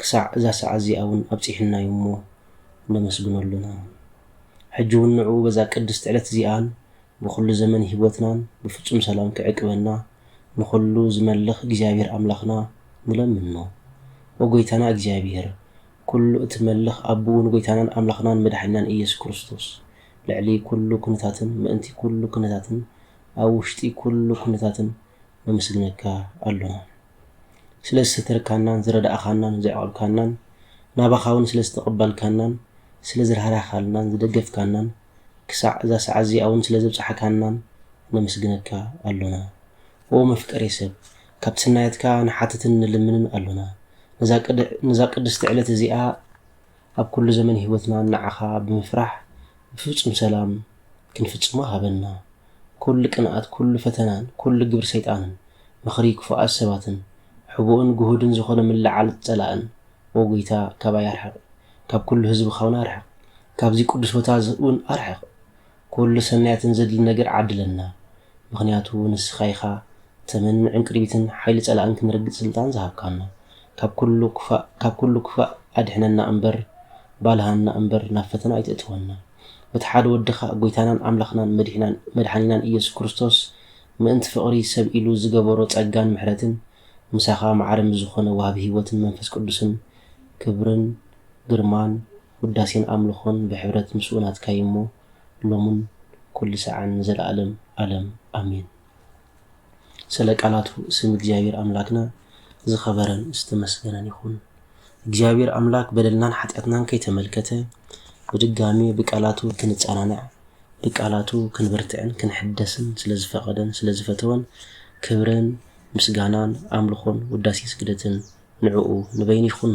ክሳዕ እዛ ሰዓት እዚኣ እውን ኣብጺሑና እዩ እሞ ነመስግኖ ኣሎና። ሕጂ እውን ንዕኡ በዛ ቅድስቲ ዕለት እዚኣን ብዅሉ ዘመን ህይወትናን ብፍጹም ሰላም ኪዕቅበና ንዅሉ ዚመልኽ እግዚኣብሄር ኣምላኽና ንለምኖ። ኦ ጐይታና እግዚኣብሄር፣ ኵሉ እትመልኽ ኣቦኡን ጐይታናን ኣምላኽናን መድሓኒናን ኢየሱስ ክርስቶስ፣ ልዕሊ ኵሉ ኵነታትን ምእንቲ ኵሉ ኵነታትን ኣብ ውሽጢ ኵሉ ኵነታትን ነመስግነካ ኣሎና። ስለ ዝሰተርካናን ዝረዳእካናን ዘዕቆብካናን ናባኻ ውን ስለ ዝተቀበልካናን ስለ ዝራህራህካልናን ዝደገፍካናን ክሳዕ እዛ ሰዓት እዚኣ ውን ስለ ዘብጻሕካናን ነመስግነካ ኣሎና ኦው መፍቀሬ ሰብ ካብቲ ስናያትካ ንሓትትን ንልምንን ኣሎና ነዛ ቅድስቲ ዕለት እዚኣ ኣብ ኩሉ ዘመን ሂወትና ንዓኻ ብምፍራሕ ብፍጹም ሰላም ክንፍጽሞ ሃበና ኩሉ ቅንኣት ኩሉ ፈተናን ኩሉ ግብሪ ሰይጣንን ምኽሪ ክፉኣት ሰባትን ሕቡእን ግሁድን ዝኾነ ምልዕዓል ጸላእን ኦ ጎይታ ካባይ ኣርሕቕ ካብ ኩሉ ህዝብኻውን ኣርሕቕ ካብዚ ቅዱስ ቦታዝውን ኣርሕቕ ኩሉ ሰናያትን ዘድሊ ነገር ዓድለና ምኽንያቱ ንስኻ ኢኻ ተመን ዕንቅርቢትን ሓይሊ ጸላእን ክንረግጽ ስልጣን ዝሃብካና ካብ ኩሉ ክፋእ ካብ ኩሉ ክፋእ ኣድሕነና እምበር ባልሃና እምበር ናብ ፈተና ኣይተእትወና። በቲ ሓደ ወድኻ ጎይታናን ኣምላኽናን መድሕናን መድሓኒናን ኢየሱስ ክርስቶስ ምእንቲ ፍቕሪ ሰብ ኢሉ ዝገበሮ ጸጋን ምሕረትን ምሳኻ ማዕረ ምስ ዝኾነ ወሃቢ ሕይወትን መንፈስ ቅዱስን ክብርን ግርማን ውዳሴን ኣምልኾን ብሕብረት ምስኡ ናትካ'ዩ'ሞ ሎምን ኩሉ ሳዕን ንዘለዓለም ኣለም ኣሜን። ስለ ቃላቱ ስም እግዚኣብሔር ኣምላክና ዝኸበረን ዝተመስገነን ይኹን። እግዚኣብሔር ኣምላክ በደልናን ሓጢኣትናን ከይተመልከተ ብድጋሜ ብቃላቱ ክንጸናናዕ ብቃላቱ ክንብርትዕን ክንሕደስን ስለዝፈቐደን ስለዝፈተወን ክብርን ምስጋናን ኣምልኾን ውዳሴ ስግደትን ንዕኡ ንበይኑ ይኹኖ።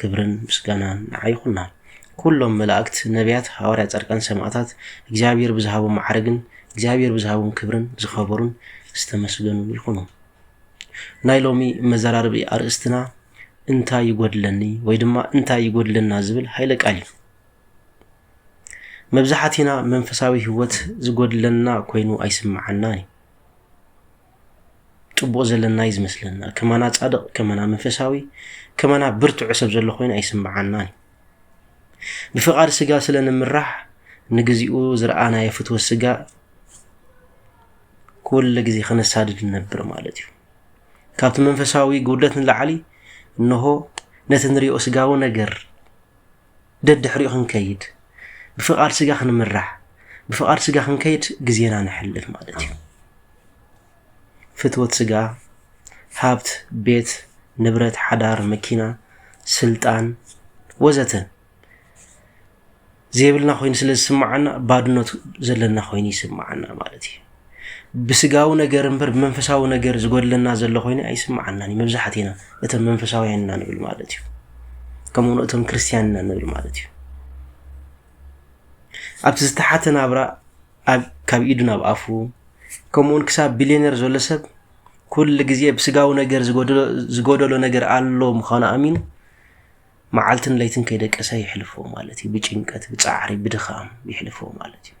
ክብርን ምስጋናን ንዓ ይኹና ኩሎም መላእክት ነብያት ሃዋርያ ጻድቃን ሰማእታት እግዚኣብሔር ብዝሃቦም መዓርግን እግዚኣብሔር ብዝሃቦም ክብርን ዝኸበሩን ዝተመስገኑ ይኹኑ ናይ ሎሚ መዘራርቢ ኣርእስትና እንታይ ይጎድለኒ ወይ ድማ እንታይ ይጎድለና ዝብል ሃይለ ቃል እዩ መብዛሕትና መንፈሳዊ ህይወት ዝጎድለና ኮይኑ ኣይስምዓናን እዩ ጽቡቅ ዘለና እዩ ዝመስለና ከማና ጻድቅ ከማና መንፈሳዊ ከማና ብርትዑ ሰብ ዘሎ ኮይኑ ኣይስምዓናን እዩ ብፍቃድ ስጋ ስለ ንምራሕ ንግዚኡ ዝረኣናዮ ፍትወ ስጋ ኩሉ ግዜ ከነሳድድ ንነብር ማለት እዩ ካብቲ መንፈሳዊ ጉድለት ንላዕሊ እንሆ ነቲ ንሪኦ ስጋዊ ነገር ደድሕሪኡ ክንከይድ፣ ብፍቓድ ስጋ ክንምራሕ፣ ብፍቓድ ስጋ ክንከይድ ግዜና ነሕልፍ ማለት እዩ። ፍትወት ስጋ፣ ሃብት፣ ቤት፣ ንብረት፣ ሓዳር፣ መኪና፣ ስልጣን ወዘተ ዘይብልና ኮይኑ ስለ ዝስምዓና ባድኖት ዘለና ኮይኑ ይስምዓና ማለት እዩ። ብስጋዊ ነገር እምበር ብመንፈሳዊ ነገር ዝጎድለና ዘሎ ኮይኑ ኣይስምዓናን እዩ መብዛሕትና እቶም መንፈሳውያን ኢና ንብል ማለት እዩ ከምኡ ውን እቶም ክርስትያን ኢና ንብል ማለት እዩ ኣብቲ ዝተሓተ ናብራ ካብ ኢዱ ናብ ኣፉ ከምኡውን ክሳብ ቢልዮነር ዘሎ ሰብ ኩሉ ግዜ ብስጋዊ ነገር ዝጎደሎ ነገር ኣሎ ምዃኑ ኣሚኑ መዓልትን ለይትን ከይደቀሰ ይሕልፎ ማለት እዩ ብጭንቀት ብፃዕሪ ብድኻም ይሕልፎ ማለት እዩ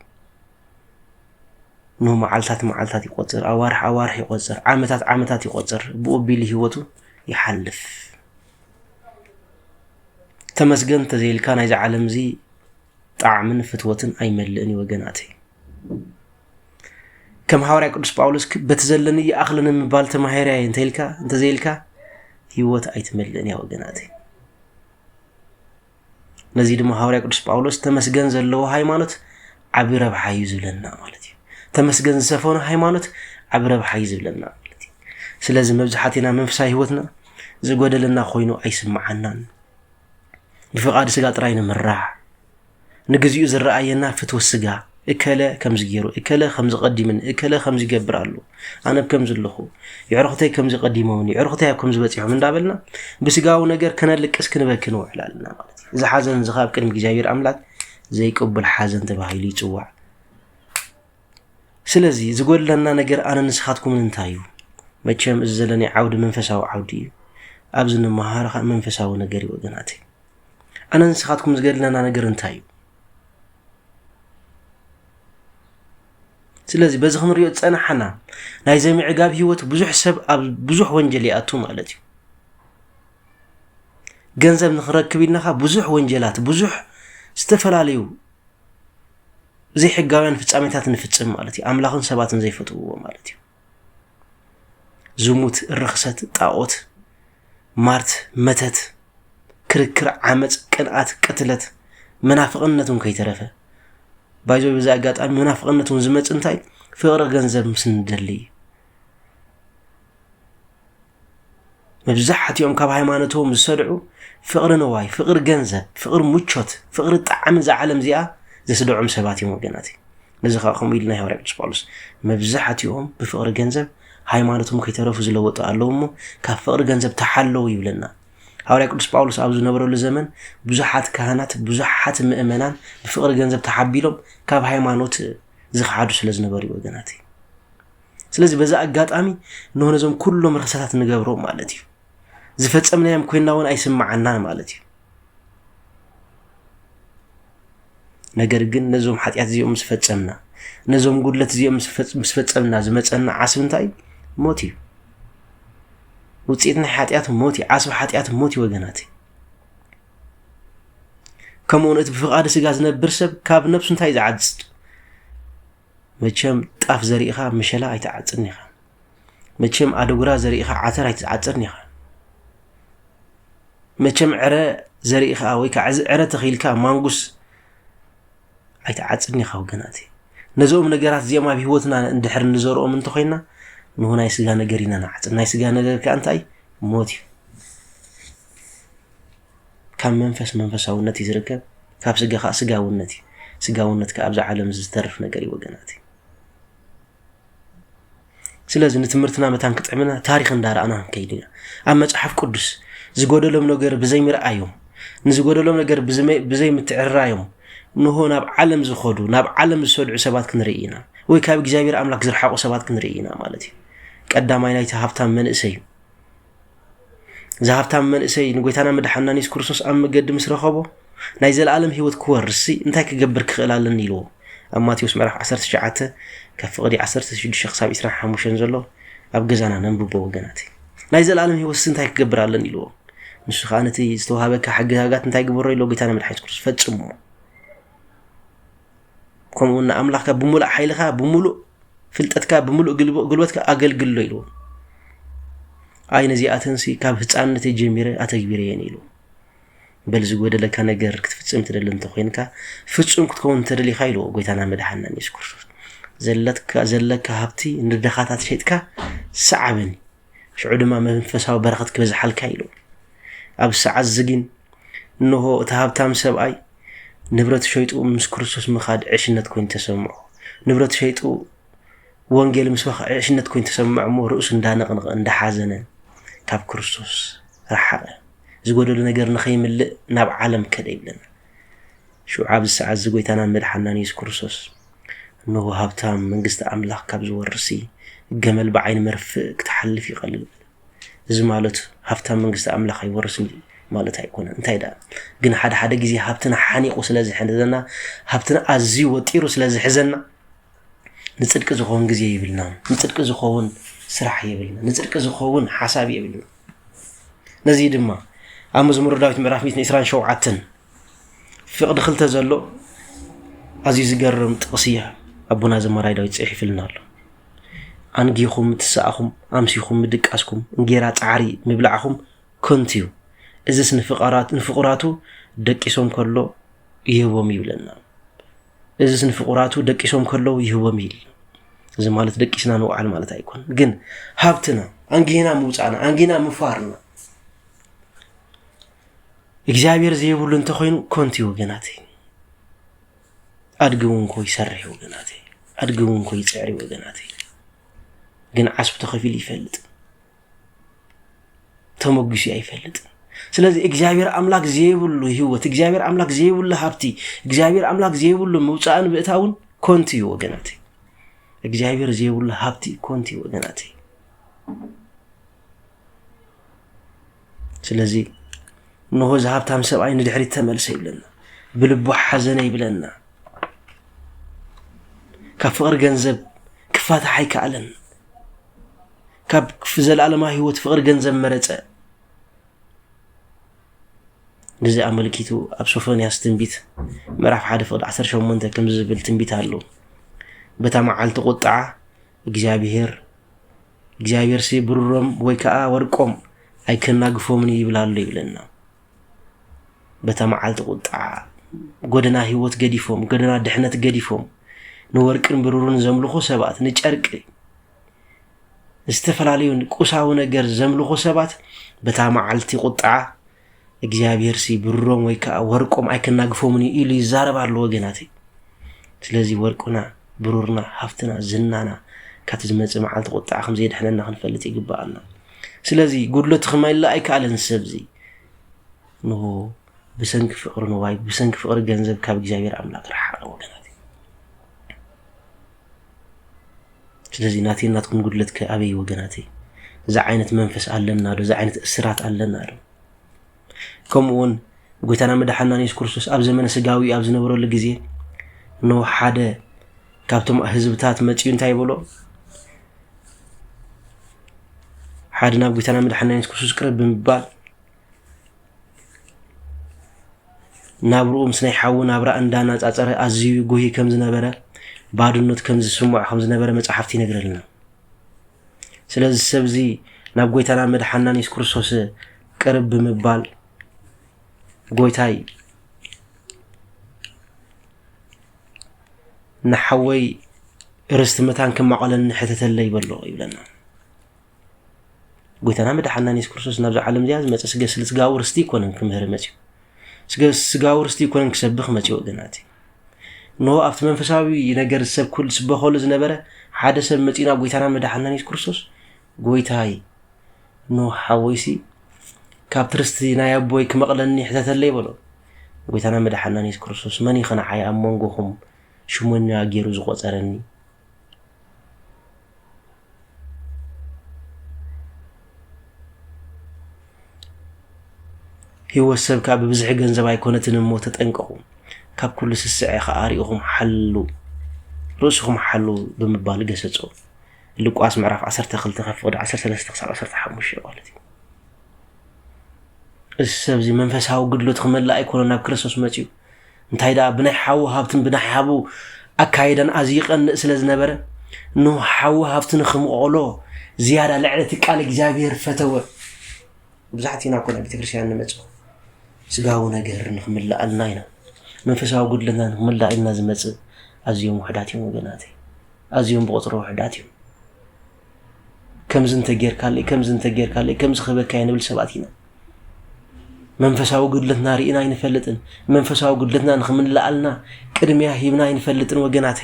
እነሆ መዓልታት መዓልታት ይቆጽር፣ ኣዋርሕ ኣዋርሕ ይቆጽር፣ ዓመታት ዓመታት ይቆጽር፣ ብኡ ኣቢሉ ህይወቱ ይሓልፍ። ተመስገን እንተዘይልካ ናይዚ ዓለም እዚ ጣዕምን ፍትወትን ኣይመልእን እዩ ወገናተይ። ከም ሃዋርያ ቅዱስ ጳውሎስ በቲ ዘለኒ ይኣኽለ ንምባል ተማሂረ እየ እንተይልካ እንተዘይልካ ህይወት ኣይትመልእን እያ ወገናተይ። ነዚ ድማ ሃዋርያ ቅዱስ ጳውሎስ ተመስገን ዘለዎ ሃይማኖት ዓቢ ረብሓ እዩ ዝብለና ማለት እዩ ተመስገን ዝሰፈኑ ሃይማኖት ዓቢ ረብሓ እዩ ዝብለና ማለት እዩ ስለዚ መብዛሕትና መንፈሳዊ ህይወትና ዝጎደለና ኮይኑ ኣይስምዓናን ብፍቓድ ስጋ ጥራይ ንምራሕ ንግዚኡ ዝረኣየና ፍትወት ስጋ እከለ ከምዚ ጌሩ እከለ ከምዚ ቀዲምን እከለ ከምዚ ይገብር ኣሉ ኣነ ብ ከምዚ ኣለኹ የዕርኹተይ ከምዚ ቀዲሞምኒ የዕርኹተይ ኣብ ከምዚ በፂሖም እንዳበልና ብስጋዊ ነገር ከነልቅስ ክንበኪ ንውዕል ኣለና ማለት እዩ እዚ ሓዘን እዚ ካብ ቅድሚ እግዚኣብሔር ኣምላክ ዘይቅቡል ሓዘን ተባሂሉ ይፅዋዕ ስለዚ ዝጎድለና ነገር ኣነ ንስኻትኩምን እንታይ እዩ መቸም እዚ ዘለኒ ዓውዲ መንፈሳዊ ዓውዲ እዩ ኣብዚ ንመሃር ከዓ መንፈሳዊ ነገር እዩ ወገናት ኣነ ንስኻትኩም ዝገድለና ነገር እንታይ እዩ ስለዚ በዚ ክንሪኦ ዝፀናሓና ናይ ዘምዕጋብ ሂወት ብዙሕ ሰብ ኣብ ብዙሕ ወንጀል ይኣቱ ማለት እዩ ገንዘብ ንክረክብ ኢልናካ ብዙሕ ወንጀላት ብዙሕ ዝተፈላለዩ ዘይሕጋውያን ፍፃሜታት ንፍፅም ማለት እዩ ኣምላኽን ሰባትን ዘይፈትውዎ ማለት እዩ ዝሙት፣ ርኽሰት፣ ጣዖት፣ ማርት፣ መተት፣ ክርክር፣ ዓመፅ፣ ቅንኣት፣ ቅትለት፣ መናፍቕነት እውን ከይተረፈ ባይዞ በዚ ኣጋጣሚ መናፍቕነት እውን ዝመፅ እንታይ ፍቕሪ ገንዘብ ምስ ንደሊ እዩ። መብዛሕትኦም ካብ ሃይማኖቶም ዝሰድዑ ፍቕሪ ንዋይ፣ ፍቕሪ ገንዘብ፣ ፍቕሪ ምቾት፣ ፍቕሪ ጣዕሚ እዛ ዓለም እዚኣ ዘስደዖም ሰባት እዮም ወገናት። ነዚ ከዓ ከምኡ ኢልና ሃዋርያ ቅዱስ ጳውሎስ መብዛሕትኦም ብፍቕሪ ገንዘብ ሃይማኖቶም ከይተረፉ ዝለወጡ ኣለዉ እሞ ካብ ፍቕሪ ገንዘብ ተሓለዉ ይብለና። ሃዋርያ ቅዱስ ጳውሎስ ኣብ ዝነበረሉ ዘመን ብዙሓት ካህናት ብዙሓት ምእመናን ብፍቕሪ ገንዘብ ተሓቢሎም ካብ ሃይማኖት ዝኸሓዱ ስለ ዝነበሩ ወገናት ስለዚ በዚ ኣጋጣሚ እንሆ ነዞም ኩሎም ርክሰታት ንገብሮም ማለት እዩ ዝፈፀምናዮም ኮይና እውን ኣይስምዓናን ማለት እዩ ነገር ግን ነዞም ሓጢኣት እዚኦም ምስ ፈፀምና ነዞም ጉድለት እዚኦም ምስ ፈፀምና ዝመፀና ዓስቢ እንታይ እዩ ሞት እዩ ውፅኢት ናይ ሓጢኣት ሞት እዩ ዓስቢ ሓጢኣት ሞት እዩ ወገናት ከምኡውን እቲ ብፍቓዲ ስጋ ዝነብር ሰብ ካብ ነብሱ እንታይ እዩ ዝዓዝፅ መቸም ጣፍ ዘሪእኻ ምሸላ ኣይትዓጽድን ኢኻ። መቸም ኣደጉራ ዘሪእኻ ዓተር ኣይትዓጽድን ኢኻ። መቸም ዕረ ዘሪእኻ ወይ ከዓ እዚ ዕረ ተኺልካ ማንጉስ ኣይትዓጽድን ኢኻ ወገናት። ነዞም ነገራት እዚኦም ኣብ ህይወትና እንድሕር እንዘርኦም እንተኮይና ንሁ ናይ ስጋ ነገር ኢና ንዓጽድ ናይ ስጋ ነገር ከዓ እንታይ ሞት እዩ ካብ መንፈስ መንፈሳውነት እዩ ዝርከብ፣ ካብ ስጋ ከኣ ስጋውነት እዩ፣ ስጋውነት ከኣ ኣብዚ ዓለም እዚ ዝተርፍ ነገር እዩ ወገናት። ስለዚ ንትምህርትና መታን ክጥዕምና ታሪኽ እንዳረኣና ክንከይድ ኢና። ኣብ መጽሓፍ ቅዱስ ዝጎደሎም ነገር ብዘይ ምርኣዮም ንዝጎደሎም ነገር ብዘይ ምትዕራዮም ንሆ ናብ ዓለም ዝኸዱ ናብ ዓለም ዝሰድዑ ሰባት ክንርኢ ኢና ወይ ካብ እግዚኣብሔር ኣምላክ ዝረሓቑ ሰባት ክንርኢ ኢና ማለት እዩ ቀዳማይ ናይቲ ሃብታም መንእሰይ እዩ እዚ ሃብታም መንእሰይ ንጎይታና መድሓና ኒስ ክርስቶስ ኣብ መገዲ ምስ ረኸቦ ናይ ዘለኣለም ህይወት ክወርስሲ እንታይ ክገብር ክኽእል ኣለኒ ኢልዎ ኣብ ማቴዎስ ምዕራፍ 19 ካብ ፍቕዲ 16 ክሳብ 25 ዘሎ ኣብ ገዛና ነንብቦ ወገናት ናይ ዘለኣለም ህይወትሲ እንታይ ክገብር ኣለኒ ኢልዎ ንሱ ከዓ ነቲ ዝተዋሃበካ ሕግጋጋት እንታይ ግበሮ ኢሎ ጎይታና መድሓኒት ክርስቶስ ፈጽሞ ከምኡውን ንኣምላኽካ ብምሉእ ሓይልካ ብምሉእ ፍልጠትካ ብምሉእ ጉልበትካ ኣገልግሎ ኢልዎ ኣይ ነዚኣተንሲ ካብ ህፃንነት ጀሚረ ኣተግቢረየን ኢሉ በል ዝጎደለካ ነገር ክትፍፅም ትደሊ እንተኮይንካ ፍፁም ክትከውን እንተደሊካ ኢልዎ ጎይታና መድሓናን የሱስ ክርስቶስ ዘለካ ሃብቲ ንድኻታት ሸጥካ ሰዓበኒ ሽዑ ድማ መንፈሳዊ በረኸት ክበዝሓልካ ኢሉ። ኣብ ሰዓት ዝጊን እንሆ እቲ ሃብታም ሰብኣይ ንብረት ሸይጡ ምስ ክርስቶስ ምኻድ ዕሽነት ኮይኑ ተሰምዖ ንብረት ሸይጡ ወንጌል ምስ በኸ ዕሽነት ኮይኑ ተሰምዖ እሞ ርእሱ እንዳነቕነቐ እንዳሓዘነ ካብ ክርስቶስ ረሓቐ ዝጎደሉ ነገር ንኸይምልእ ናብ ዓለም ከደ ይብለና ሽዑ ኣብዚ ሰዓት እዚ ጐይታናን መድሓንናን የሱስ ክርስቶስ እንሆ ሃብታም መንግስቲ ኣምላኽ ካብ ዝወርስሲ ገመል ብዓይኒ መርፍእ ክትሓልፍ ይቐልል በለ። እዚ ማለት ሃብታም መንግስቲ ኣምላኽ ኣይወርስን እዩ ማለት ኣይኮነ እንታይ ደኣ ግን ሓደ ሓደ ግዜ ሃብትና ሓኒቑ ስለ ዝሕዘና ሃብትና ኣዝዩ ወጢሩ ስለ ዝሕዘና ንጽድቂ ዝኸውን ግዜ የብልናን፣ ንጽድቂ ዝኸውን ስራሕ የብልናን፣ ንጽድቂ ዝኸውን ሓሳብ የብልናን። ነዚ ድማ ኣብ መዝሙረ ዳዊት ምዕራፍ 127 ፍቕዲ ክልተ ዘሎ ኣዝዩ ዝገርም ጥቕሲ እያ ኣቦና ዘማራይ ዳዊት ጽሒፍልና ኣሎ። ኣንጊኹም ምትስኣኹም ኣምሲኹም ምድቃስኩም እንጌራ ጻዕሪ ምብላዕኹም ከንቱ እዩ እዚስ ንፍቁራቱ ደቂሶም ከሎ ይህቦም ይብለና እዚስ ንፍቑራቱ ደቂሶም ከለዉ ይህቦም ኢል እዚ ማለት ደቂስና ንውዓል ማለት ኣይኮን ግን ሃብትና ኣንጊና ምውፃእና ኣንጊና ምፋርና እግዚኣብሔር ዘይብሉ እንተኮይኑ ኮንቲ ወገናት ኣድጊ እውን ኮ ይሰርሕ ወገናት ኣድጊ እውን ኮ ይፅዕሪ ወገናት ግን ዓስቡ ተኸፊሉ ይፈልጥ ተመጒሱ ኣይፈልጥን። ስለዚ እግዚኣብሔር ኣምላክ ዘይብሉ ህይወት፣ እግዚኣብሔር ኣምላክ ዘይብሉ ሃብቲ፣ እግዚኣብሔር ኣምላክ ዘይብሉ ምውፃእን ምእታውን ኮንቱ እዩ ወገናት። እግዚኣብሔር ዘይብሉ ሃብቲ ኮንቱ እዩ ወገናት። ስለዚ እንሆ እዚ ሃብታም ሰብኣይ ንድሕሪት ተመልሰ ይብለና፣ ብልቡ ሓዘነ ይብለና። ካብ ፍቕሪ ገንዘብ ክፋታሕ ኣይከኣለን። ካብ ክፍ ዘለኣለማ ህይወት ፍቕሪ ገንዘብ መረጸ። ግዜ ኣመልኪቱ ኣብ ሶፎንያስ ትንቢት ምዕራፍ ሓደ ፍቕዲ 18 ከምዚ ዝብል ትንቢት ኣሎ በታ መዓልቲ ቁጥዓ እግዚኣብሄር እግዚኣብሄርሲ ብሩሮም ወይ ከዓ ወርቆም ኣይከናግፎምን ይብል ኣሎ ይብለና በታ መዓልቲ ቁጥዓ ጎደና ህይወት ገዲፎም ጎደና ድሕነት ገዲፎም ንወርቅን ብሩርን ዘምልኹ ሰባት ንጨርቂ ዝተፈላለዩ ቁሳዊ ነገር ዘምልኹ ሰባት በታ መዓልቲ ቁጥዓ እግዚኣብሔር ሲ ብሮም ወይ ከዓ ወርቆም ኣይከናግፎምን እዩ ኢሉ ይዛረብ ኣሎ ወገናተይ ስለዚ ወርቁና ብሩርና ሃፍትና ዝናና ካብቲ ዝመፅእ መዓልቲ ቁጥዓ ከምዘየድሕነና ክንፈልጥ ይግባኣና ስለዚ ጉድለቱ ክመልእ ኣይከኣለን ሰብ እዚ ንሆ ብሰንኪ ፍቅሪ ንዋይ ብሰንኪ ፍቅሪ ገንዘብ ካብ እግዚኣብሔር ኣምላክ ረሓቀ ወገናት ስለዚ ናተይን ናትኩም ጉድለት ከ ኣበይ ወገናተይ? እዚ ዓይነት መንፈስ ኣለና ዶ? እዚ ዓይነት እስራት ኣለና ዶ? ከምኡ እውን ጎይታና መድሓና የሱስ ክርስቶስ ኣብ ዘመነ ስጋዊ ኣብ ዝነበረሉ ግዜ ኖ ሓደ ካብቶም ህዝብታት መፅኡ እንታይ በሎ ሓደ ናብ ጎይታና መድሓና የሱስ ክርስቶስ ቅረብ ብምባል ናብርኡ ምስ ናይ ሓዉ ናብራ እንዳነጻጸረ ኣዝዩ ይጉሂ ከም ዝነበረ፣ ባዶነት ከም ዝስምዖ ከም ዝነበረ መጻሕፍቲ ይነግረልና። ስለዚ ሰብዚ ናብ ጎይታናን መድሓናን የሱስ ክርስቶስ ቅርብ ብምባል ጎይታይ ንሓወይ ርስቲ መታን ክማቐለኒ ሕተተለይ በሎ ይብለና። ጎይታና መድሓና የሱስ ክርስቶስ ናብዛ ዓለም እዚኣ ዝመፀ ስገ ስጋዊ ርስቲ ይኮነን ክምህር መፅኡ ስገ ስጋዊ ርስቲ ይኮነን ክሰብኽ መፅኡ ወገናት ኖ ኣብቲ መንፈሳዊ ነገር ዝሰብክሉ ዝበኸሉ ዝነበረ ሓደ ሰብ መፅኡ ናብ ጎይታና መድሓና የሱስ ክርስቶስ ጎይታይ ኖ ሓወይሲ ካብቲ ርስቲ ናይ ኣቦይ ክመቕለኒ ሕተተለይ በሎ ጎይታና መድሓና የሱስ ክርስቶስ መን ይኸነዓይ ኣብ መንጎኹም ሽሞኛ ገይሩ ዝቆፀረኒ ህይወት ሰብ ከዓ ብብዝሒ ገንዘብ ኣይኮነትን እሞ ተጠንቀቑ፣ ካብ ኩሉ ስስዐ ከዓ ርኢኹም ሓሉ ርእስኹም ሓሉ ብምባል ገሰጾ። ሉቃስ ምዕራፍ 12 ካብ ፍቕዲ 13 ክሳብ 15 ማለት እዩ። እዚ ሰብዚ መንፈሳዊ ግድሎት ክመልእ ኣይኮነ ናብ ክርስቶስ መፅኡ እንታይ ደኣ ብናይ ሓው ሃብትን ብናይ ሓቡ ኣካይዳን ኣዝዩ ይቀንእ ስለ ዝነበረ ኖህ ሓው ሃብቲ ንክምቐሎ ዝያዳ ልዕሊ እቲ ቃል እግዚኣብሔር ፈተወ። መብዛሕትኡ ኢና እኮ ናብ ቤተክርስትያን ንመጽእ ስጋዊ ነገር ንክምላኣልና ኢና መንፈሳዊ ጉድለትና ንክምላእ ኢልና ዝመጽእ ኣዝዮም ውሕዳት እዮም ወገናተይ፣ ኣዝዮም ብቁፅሪ ውሕዳት እዮም። ከምዚ እንተጌርካለይ ከምዚ እንተጌርካለይ ከምዚ ክህበካየ ንብል ሰባት ኢና መንፈሳዊ ጉድለትና ርኢና ኣይንፈልጥን መንፈሳዊ ጉድለትና ንክምልኣልና ቅድሚያ ሂብና ኣይንፈልጥን ወገናት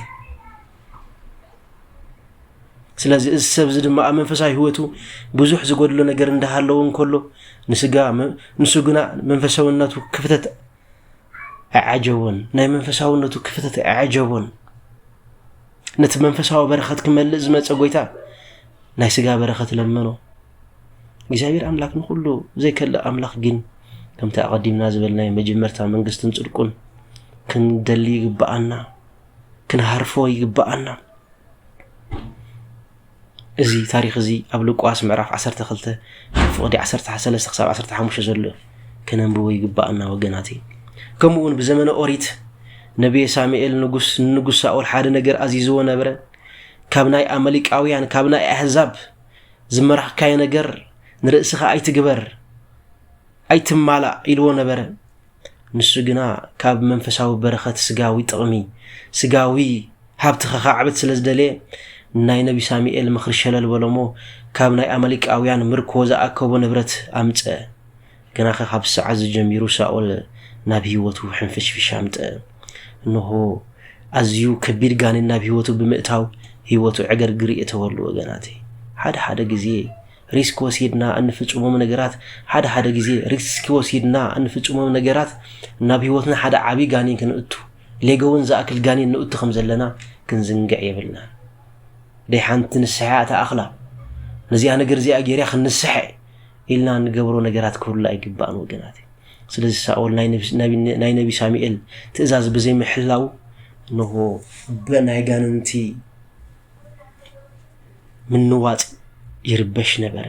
ስለዚ እዚ ሰብ እዚ ድማ ኣብ መንፈሳዊ ህይወቱ ብዙሕ ዝጎድሎ ነገር እንዳሃለዎ እንከሎ ንስጋ ንሱ ግና መንፈሳዊነቱ ክፍተት ኣይዓጀቦን፣ ናይ መንፈሳውነቱ ክፍተት ኣይዓጀቦን። ነቲ መንፈሳዊ በረኸት ክመልእ ዝመፀ ጎይታ ናይ ስጋ በረኸት ለመኖ። እግዚኣብሔር ኣምላክ ንኩሉ ዘይከልእ ኣምላኽ ግን ከምቲ ኣቐዲምና ዝበልናዮ መጀመርታ መንግስትን ፅድቁን ክንደሊ ይግብኣና፣ ክንሃርፎ ይግብኣና። እዚ ታሪኽ እዚ ኣብ ሉቃስ ምዕራፍ ዓሰርተ ክልተ ካብ ፍቕዲ ዓሰርተ ሰለስተ ክሳብ ዓሰርተ ሓሙሽተ ዘሎ እዩ ከነንብቦ ይግባኣና ወገናተይ ከምኡ እውን ብዘመነ ኦሪት ነብየ ሳሙኤል ንጉስ ንንጉስ ሳኦል ሓደ ነገር ኣዚዝዎ ነበረ ካብ ናይ ኣመሊቃውያን ካብ ናይ ኣሕዛብ ዝመራኽካዮ ነገር ንርእስኻ ኣይትግበር ኣይትማላእ ኢልዎ ነበረ ንሱ ግና ካብ መንፈሳዊ በረኸት ስጋዊ ጥቕሚ ስጋዊ ሃብቲ ከኻዕብት ስለ ዝደለየ ናይ ነቢ ሳሙኤል ምኽሪ ሸለል በሎሞ ካብ ናይ ኣመሊቃውያን ምርኮ ዝኣከቦ ንብረት ኣምፀ ግናኸ ካብ ሰዓት ዝጀሚሩ ሳኦል ናብ ህይወቱ ሕንፍሽፍሽ ኣምጠ እንሆ ኣዝዩ ከቢድ ጋኔን ናብ ህይወቱ ብምእታው ህይወቱ ዕገርግር የተወሉ ወገናተይ ሓደ ሓደ ግዜ ሪስክ ወሲድና እንፍጽሞም ነገራት ሓደ ሓደ ግዜ ሪስክ ወሲድና እንፍጽሞም ነገራት ናብ ህይወትና ሓደ ዓብዪ ጋኔን ክንእቱ ሌገውን ዝኣክል ጋኔን ንእቱ ከም ዘለና ክንዝንግዕ የብልናን ደይ ሓንቲ ንስሐ እያ ተኣኽላ ነዚኣ ነገር እዚኣ ጌርያ ክንስሐ ኢልና ንገብሮ ነገራት ክህሉ ኣይግባእን ወገናት ስለዚ ሳኦል ናይ ነቢ ሳሙኤል ትእዛዝ ብዘይምሕላው እንሆ ብናይ ጋንንቲ ምንዋጽ ይርበሽ ነበረ።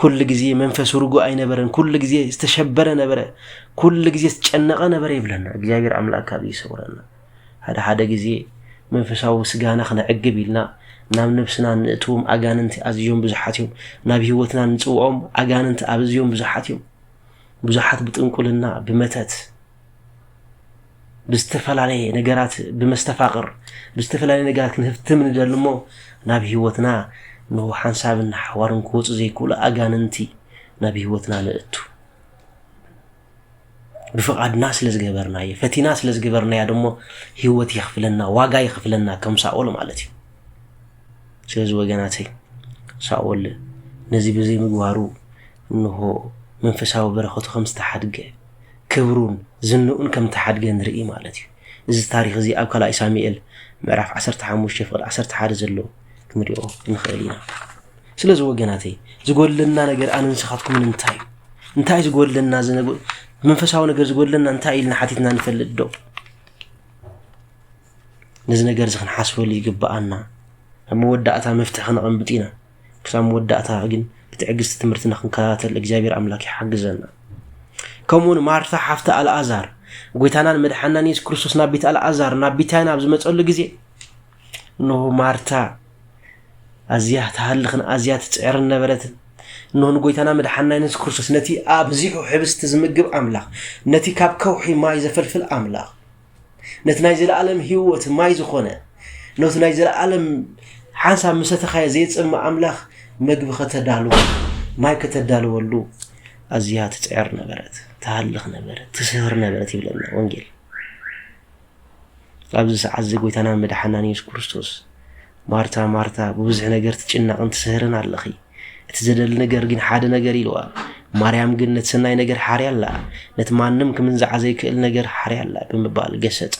ኩሉ ግዜ መንፈሱ ርጉእ ኣይነበረን። ኩሉ ግዜ ዝተሸበረ ነበረ። ኩሉ ግዜ ዝተጨነቐ ነበረ ይብለና እግዚኣብሔር ኣምላክ ካብ ይሰውረና። ሓደ ሓደ ግዜ መንፈሳዊ ስጋና ክነዕግብ ኢልና ናብ ነብስና ንእትዎም ኣጋንንቲ ኣዝዮም ብዙሓት እዮም። ናብ ህይወትና ንፅውኦም ኣጋንንቲ ኣዝዮም ብዙሓት እዮም። ብዙሓት ብጥንቁልና ብመተት ብዝተፈላለየ ነገራት ብመስተፋቕር ብዝተፈላለየ ነገራት ክንህፍትም ንደሊ እሞ ናብ ህይወትና ንሁ ሓንሳብን ሓዋርን ክወፁ ዘይክእሉ ኣጋንንቲ ናብ ህይወትና ንእቱ ብፍቓድና ስለ ዝገበርናዮ ፈቲና ስለ ዝገበርናዮ ደሞ ህይወት የኽፍለና ዋጋ የኽፍለና ከም ሳኦል ማለት እዩ ስለዚ ወገናተይ ሳኦል ነዚ ብዘይምግባሩ እንሆ መንፈሳዊ በረኸቱ ከም ዝተሓድገ ክብሩን ዝንኡን ከም እተሓድገ ንርኢ ማለት እዩ። እዚ ታሪኽ እዚ ኣብ ካልኣይ ሳሙኤል ምዕራፍ ዓሰርተ ሓሙሽተ ፍቕዲ ዓሰርተ ሓደ ዘሎ ክንሪኦ ንኽእል ኢና። ስለዚ ወገናተይ ዝጎድለና ነገር ኣነ ንስኻትኩምን እንታይ እዩ? እንታይ ዝጎድለና መንፈሳዊ ነገር ዝጎድለና እንታይ ኢልና ሓቲትና ንፈልጥ ዶ? ነዚ ነገር እዚ ክንሓስበሉ ይግብኣና። ኣብ መወዳእታ መፍትሒ ክነቐምጥ ኢና። ክሳብ መወዳእታ ግን ብትዕግስቲ ትምህርትና ክንከታተል እግዚኣብሔር ኣምላክ ይሓግዘና። ከምኡ ውን ማርታ ሓፍቲ ኣልኣዛር ጎይታናን መድሓናን የሱስ ክርስቶስ ናብ ቤት ኣልኣዛር ናብ ቢታይና ኣብ ዝመፀሉ ግዜ እንሆ ማርታ ኣዝያ ትሃልኽን ኣዝያ ትፅዕርን ነበረትን እንሆ ንጎይታና መድሓና የሱስ ክርስቶስ ነቲ ኣብዚሑ ሕብስቲ ዝምግብ ኣምላኽ ነቲ ካብ ከውሒ ማይ ዘፈልፍል ኣምላኽ ነቲ ናይ ዘለኣለም ህይወት ማይ ዝኾነ ነቲ ናይ ዘለኣለም ሓንሳብ ምሰተኻዮ ዘየፅም ኣምላኽ መግቢ ከተዳሉ ማይ ከተዳልወሉ ኣዝያ ትፅዕር ነበረት ትሃልኽ ነበረት ትስህር ነበረት ይብለና ወንጌል ኣብዚ ሰዓት እዚ ጎይታና መድሓናን የሱስ ክርስቶስ ማርታ ማርታ ብብዙሕ ነገር ትጭነቕን ትስህርን ኣለኺ እቲ ዘደሊ ነገር ግን ሓደ ነገር ኢልዋ። ማርያም ግን ነቲ ሰናይ ነገር ሓርያ ኣላ፣ ነቲ ማንም ክምንዝዓ ዘይክእል ነገር ሓርያ ኣላ ብምባል ገሰጻ።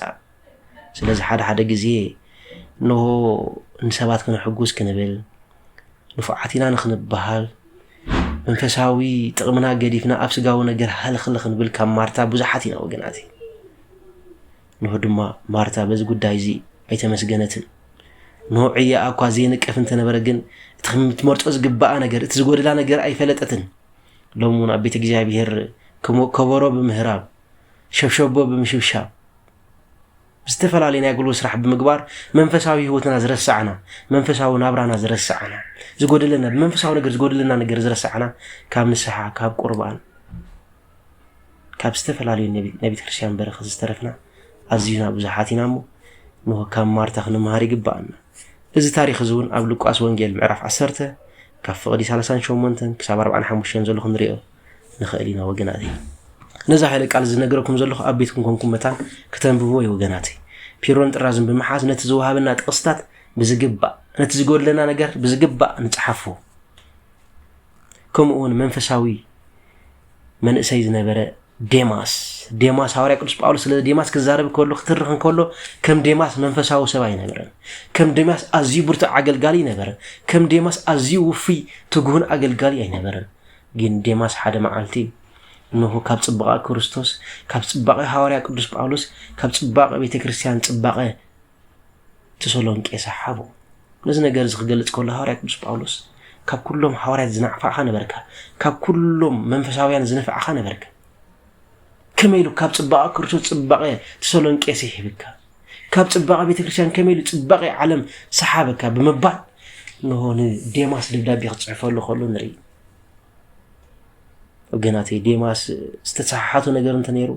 ስለዚ ሓደ ሓደ ግዜ እንሆ ንሰባት ክነሕጉስ ክንብል ንፉዓት ኢና ንክንበሃል መንፈሳዊ ጥቕምና ገዲፍና ኣብ ስጋዊ ነገር ሃልኽልኽ ንብል ካብ ማርታ ብዙሓት ኢና ወገናት እነሆ ድማ ማርታ በዚ ጉዳይ እዚ ኣይተመስገነትን። እነሆ ዕያኣ እኳ ዘይንቀፍ እንተ ነበረ ግን እቲ ከምትመርጾ ዝግብኣ ነገር፣ እቲ ዝጎድላ ነገር ኣይፈለጠትን። ሎሚ እውን ኣብ ቤተ እግዚኣብሔር ከም ከበሮ ብምህራም ሸብሸቦ ብምሽብሻብ ዝተፈላለየ ናይ ጉልበት ስራሕ ብምግባር መንፈሳዊ ህይወትና ዝረሳዕና መንፈሳዊ ናብራና ዝረሳዕና ዝጎደለና ብመንፈሳዊ ነገር ዝጎደለና ነገር ዝረሳዕና ካብ ንስሓ ካብ ቁርባን ካብ ዝተፈላለዩ ናይ ቤተ ክርስቲያን በረኸት ዝተረፍና ኣዚዩና ብዙሓት ኢና እሞ እንሆ ካብ ማርታ ክንምሃር ይግብኣና። እዚ ታሪኽ እዚ እውን ኣብ ሉቃስ ወንጌል ምዕራፍ 10 ካብ ፍቕዲ 38 ክሳብ 45 ዘሎ ክንሪኦ ንኽእል ኢና ወገናተይ። ነዛ ሓይለ ቃል ዝነገረኩም ዘለኹ ኣብ ቤትኩም ኮንኩም መታን ክተንብብዎ እዩ ወገናተይ። ፒሮን ጥራዝን ብምሓዝ ነቲ ዝወሃበና ጥቕስታት ብዝግባእ ነቲ ዝጎድለና ነገር ብዝግባእ ንፅሓፎ። ከምኡ እውን መንፈሳዊ መንእሰይ ዝነበረ ዴማስ ዴማስ ሃዋርያ ቅዱስ ጳውሎስ ስለ ዴማስ ክዛረብ ከሎ ክትርኽ እንከሎ ከም ዴማስ መንፈሳዊ ሰብ ኣይነበረን። ከም ዴማስ ኣዝዩ ብርቱዕ ኣገልጋሊ ነበረ። ከም ዴማስ ኣዝዩ ውፍይ ትጉህን ኣገልጋሊ ኣይነበረን። ግን ዴማስ ሓደ መዓልቲ እንሆ ካብ ጽባቐ ክርስቶስ ካብ ጽባቐ ሃዋርያ ቅዱስ ጳውሎስ ካብ ጽባቐ ቤተ ክርስቲያን ጽባቐ ተሰሎንቄ ሰሓቦ። ነዚ ነገር እዚ ክገልጽ ከሎ ሃዋርያ ቅዱስ ጳውሎስ ካብ ኩሎም ሃዋርያት ዝናዕፋዕኻ ነበርካ፣ ካብ ኩሎም መንፈሳውያን ዝነፍዕኻ ነበርካ። ከመይ ኢሉ ካብ ጽባቐ ክርስቶስ ጽባቐ ተሰሎንቄ ስሒብካ፣ ካብ ጽባቐ ቤተ ክርስቲያን ከመይ ኢሉ ጽባቐ ዓለም ሰሓበካ ብምባል ንሆ ንዴማስ ደብዳቤ ክጽሕፈሉ ከሎ ንርኢ። ወገናተይ ዴማስ ዝተሰሓሓቱ ነገር እንተ ነይሩ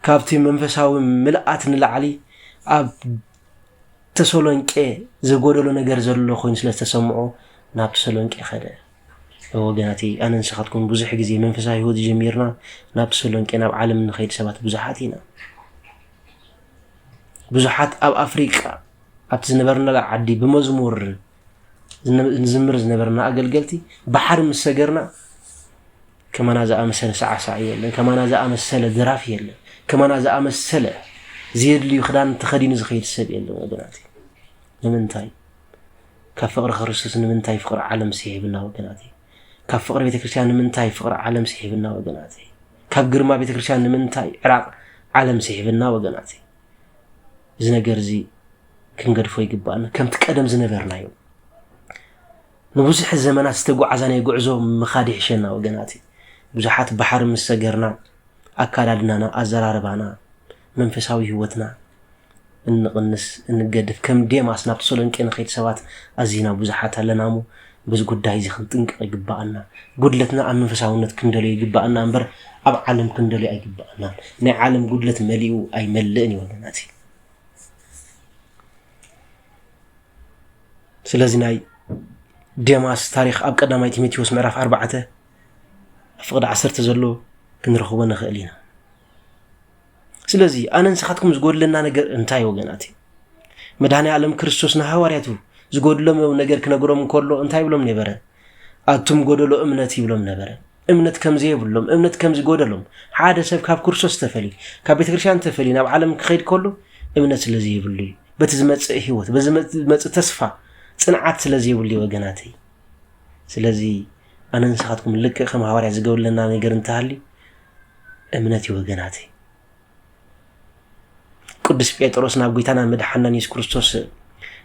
ካብቲ መንፈሳዊ ምልኣት ንላዕሊ ኣብ ተሰሎንቄ ዘጎደሎ ነገር ዘሎ ኮይኑ ስለ ዝተሰምዖ ናብ ተሰሎንቄ ከደ። ወገናቲ ኣነ ንስኻትኩም ብዙሕ ግዜ መንፈሳዊ ህይወት ጀሚርና ናብ ተሰሎንቄ ናብ ዓለም ንኸይድ ሰባት ብዙሓት ኢና። ብዙሓት ኣብ ኣፍሪቃ ኣብቲ ዝነበርናላ ዓዲ ብመዝሙር ንዝምር ዝነበርና ኣገልገልቲ ባሕሪ ምስ ሰገርና ከማና ዝኣመሰለ ሰዓሳዕ የለን፣ ከማና ዝኣመሰለ ድራፍ የለን፣ ከማና ዝኣመሰለ ዘየድልዩ ክዳን ተኸዲኑ ዝኸይድ ሰብ የለን። ወገናት ንምንታይ ካብ ፍቕሪ ክርስቶስ ንምንታይ ፍቕሪ ዓለም ስሒብና ወገናት ካብ ፍቕሪ ቤተክርስትያን ንምንታይ ፍቕሪ ዓለም ስሒብና ወገናት ካብ ግርማ ቤተክርስትያን ንምንታይ ዕራቕ ዓለም ስሒብና ወገናት እዚ ነገር እዚ ክንገድፎ ይግባእና ከምቲ ቀደም ዝነበርናዮ ንብዙሕ ዘመናት ዝተጓዓዛ ናይ ጉዕዞ ምኻድ ይሕሸና ወገናት ብዙሓት ባሕሪ ምስ ሰገርና ኣካዳድናና ኣዘራርባና መንፈሳዊ ህይወትና እንቕንስ እንገድፍ ከም ዴማስ ናብ ተሰሎንቄ ንኸይድ ሰባት ኣዚና ብዙሓት ኣለና እሞ በዚ ጉዳይ እዚ ክንጥንቀቕ ይግባኣና ጉድለትና ኣብ መንፈሳውነት ክንደልዮ ይግባኣና እምበር ኣብ ዓለም ክንደልዮ ኣይግባኣናን ናይ ዓለም ጉድለት መሊኡ ኣይመልእን እዩ ወገናት ስለዚ ናይ ዴማስ ታሪክ ኣብ ቀዳማይ ቲሞቴዎስ ምዕራፍ ኣርባዕተ ፍቅዲ ዓሰርተ ዘሎ ክንረኽቦ ንኽእል ኢና ስለዚ ኣነ ንስኻትኩም ዝጎድለና ነገር እንታይ ወገናት እዩ መድሃኒ ዓለም ክርስቶስ ንሃዋርያቱ ዝጎድሎም ነገር ክነግሮም እንከሎ እንታይ ይብሎም ነበረ ኣቱም ጎደሎ እምነት ይብሎም ነበረ እምነት ከም ዘየብሎም፣ እምነት ከም ዝጎደሎም፣ ሓደ ሰብ ካብ ክርስቶስ ተፈልዩ፣ ካብ ቤተ ክርስቲያን ተፈልዩ ናብ ዓለም ክኸይድ ከሎ እምነት ስለ ዘይብሉ እዩ። በቲ ዝመጽእ ህይወት፣ በዚ ዝመጽእ ተስፋ ጽንዓት ስለ ዘይብሉ እዩ ወገናተይ። ስለዚ ኣነ ንስኻትኩም ልክዕ ከም ሃዋርያ ዝገብለና ነገር እንተሃልዩ እምነት እዩ ወገናተይ። ቅዱስ ጴጥሮስ ናብ ጐይታና መድሓናን የሱስ ክርስቶስ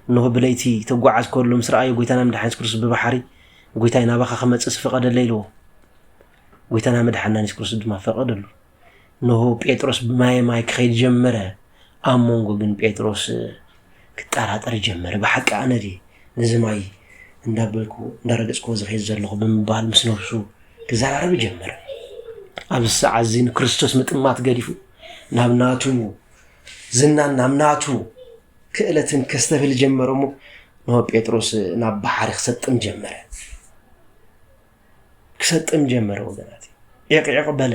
እንሆ ብለይቲ ተጓዓዝ ከሎ ምስ ረኣዮ ጐይታና መድሓን የሱስ ክርስቶስ ብባሕሪ ጐይታይ ናባኻ ክመፅእ ስፍቐደለ ኢልዎ ጐይታና መድሓናን የሱስ ክርስቶስ ድማ ፈቐደሉ እንሆ ጴጥሮስ ብማየ ማይ ክኸይድ ጀመረ ኣብ መንጎ ግን ጴጥሮስ ክጠራጠር ጀመረ ብሓቂ ኣነ ድየ ነዚ ማይ እንዳበልኩ እንዳረገጽክዎ ዝኸይድ ዘለኹ ብምባል ምስ ነብሱ ክዘራረብ ጀመረ። ኣብዚ ሰዓት እዚ ንክርስቶስ ምጥማት ገዲፉ ናብ ናቱ ዝናን ናብ ናቱ ክእለትን ከስተብል ጀመረ እሞ ንሆ ጴጥሮስ ናብ ባሕሪ ክሰጥም ጀመረ ክሰጥም ጀመረ ወገናት ዕቕዕቕ በለ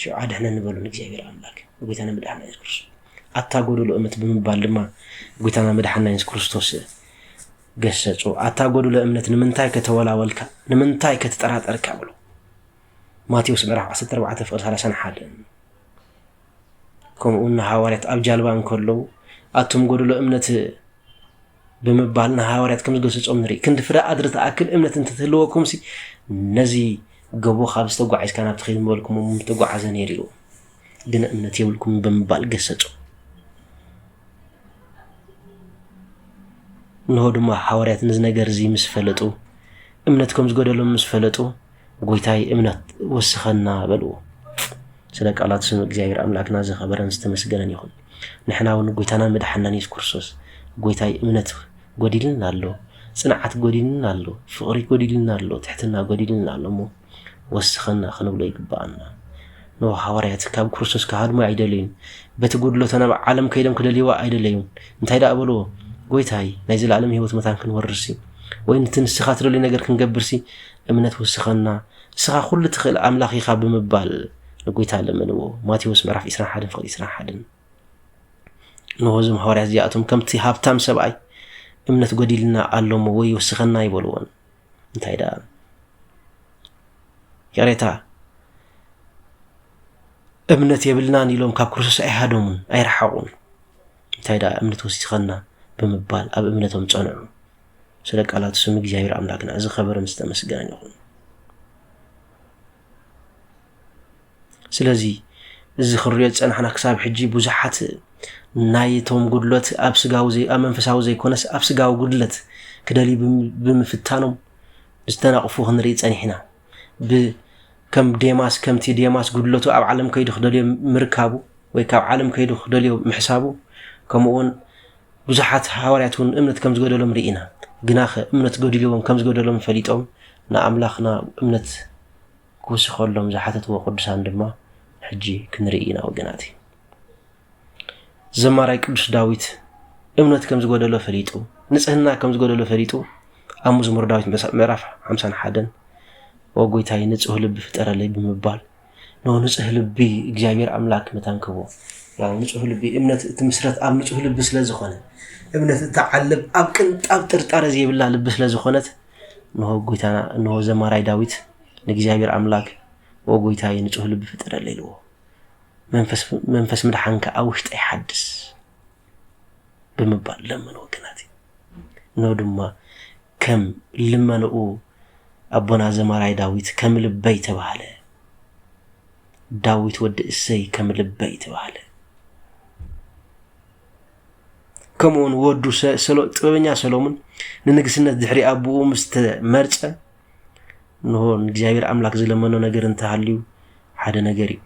ሽዑ ኣድኅነኒ በሉ ንእግዚኣብሔር ኣምላክ ጎይታና መድኃና ኢየሱስ ክርስቶስ ኣታ ጎደሎ እምነት ብምባል ድማ ጎይታና መድኃና ኢየሱስ ክርስቶስ ገሰጾ ኣታ ጎደሎ እምነት ንምንታይ ከተወላወልካ ንምንታይ ከተጠራጠርካ ብሎ ማቴዎስ ምዕራፍ 14 ፍቅሪ 31 ከምኡ እውን ሃዋርያት ኣብ ጃልባ እንከለዉ ኣቱም ጎደሎ እምነት ብምባል ንሃዋርያት ከም ዝገሰጾም ንርኢ። ክንዲ ፍረ ኣድሪ ትኣክል እምነት እንተትህልወኩምሲ ነዚ ገቦ ካብ ዝተጓዒዝካ ናብቲ ኺድ ምበልኩሞ ምተጓዓዘ ነይሩ እዩ፣ ግን እምነት የብልኩም ብምባል ገሰጹ። እንሆ ድማ ሃዋርያት ነዚ ነገር እዚ ምስ ፈለጡ እምነት ከም ዝጎደሎም ምስ ፈለጡ ጎይታይ እምነት ወስኸና በልዎ። ስለ ቃላት ስም እግዚኣብሔር ኣምላክና ዝኸበረን ዝተመስገነን ይኹን። ንሕና እውን ጎይታናን መድሓናን የሱስ ክርስቶስ ጎይታይ እምነት ጎዲልና ኣሎ፣ ጽንዓት ጎዲልና ኣሎ፣ ፍቕሪ ጎዲልና ኣሎ፣ ትሕትና ጎዲልና ኣሎ እሞ ወስኸና ክንብሎ ይግባኣና። ንዎ ሃዋርያት ካብ ክርስቶስ ክሃድሙ ኣይደለዩን። በቲ ጉድሎተ ናብ ዓለም ከይዶም ክደልይዋ ኣይደለዩን። እንታይ ደኣ በልዎ? ጎይታይ ናይ ዘለኣለም ህይወት መታን ክንወርስሲ ወይ ንቲ ንስኻ ትደልዩ ነገር ክንገብርሲ እምነት ወስኸና፣ ንስኻ ዅሉ እትኽእል ኣምላኽ ኢኻ ብምባል ንጐይታ ለመንዎ። ማቴዎስ ምዕራፍ ዒስራን ሓደን ፍቕዲ ዒስራን ሓደን እንሆ እዞም ሃዋርያት እዚኣቶም ከምቲ ሃብታም ሰብኣይ እምነት ጐዲልና ኣሎ እሞ ወይ ወስኸና ኣይበልዎን። እንታይ ደኣ ይቕሬታ እምነት የብልናን ኢሎም ካብ ክርስቶስ ኣይሃደሙን ኣይረሓቑን። እንታይ ደኣ እምነት ወሲኸና ብምባል ኣብ እምነቶም ጸንዑ። ስለ ቃላት ስም እግዚኣብሔር ኣምላክና እዚ ከበረ ምስ ተመስገነን ይኹን። ስለዚ እዚ ክንሪኦ ዝጸናሕና ክሳብ ሕጂ ብዙሓት ናይቶም ጉድለት ኣብ ስጋዊ ዘይ ኣብ መንፈሳዊ ዘይኮነስ ኣብ ስጋዊ ጉድለት ክደልዩ ብምፍታኖም ዝተናቕፉ ክንርኢ ጸኒሕና ከም ዴማስ ከምቲ ዴማስ ጉድለቱ ኣብ ዓለም ከይዱ ክደልዮ ምርካቡ ወይ ካብ ዓለም ከይዱ ክደልዮ ምሕሳቡ ከምኡውን ብዙሓት ሃዋርያት እውን እምነት ከም ዝገደሎም ርኢና። ግናኸ እምነት ገዲልዎም ከም ዝገደሎም ፈሊጦም ንኣምላኽና እምነት ክውስኸሎም ዝሓተትዎ ቅዱሳን ድማ ሕጂ ክንርኢ ኢና ወገናት። ዘማራይ ቅዱስ ዳዊት እምነት ከም ዝጎደሎ ፈሊጡ ንጽህና ከም ዝጎደሎ ፈሊጡ ኣብ መዝሙር ዳዊት ምዕራፍ 51 ወጎይታይ ንጹህ ልቢ ፍጠረለይ ብምባል ን ንጹህ ልቢ እግዚኣብሔር ኣምላክ መታን ክህቦ ያው ንጹህ ልቢ እምነት እትምስረት ኣብ ንጹህ ልቢ ስለ ዝኾነ እምነት እትዓልብ ኣብ ቅንጣብ ጥርጣረ ዘይብላ ልቢ ስለ ዝኾነት እንሆ ጎይታና እንሆ ዘማራይ ዳዊት ንእግዚኣብሔር ኣምላክ ኦ ጎይታይ ንጹህ ልቢ ፍጠረለይ ኢልዎ መንፈስ ምድሓንካ ኣብ ውሽጠይ ሓድስ ብምባል ለመኑ ወገናቲ እነሆ ድማ ከም ልመንኡ ኣቦና ዘማራይ ዳዊት ከም ልበይ ተባህለ ዳዊት ወዲ እሰይ ከም ልበይ ተባህለ ከምኡውን ወዱ ጥበበኛ ሰሎሙን ንንግስነት ድሕሪ ኣቦኡ ምስ ተመርፀ እንሆ ንእግዚኣብሔር ኣምላክ ዝለመኖ ነገር እንተሃልዩ ሓደ ነገር እዩ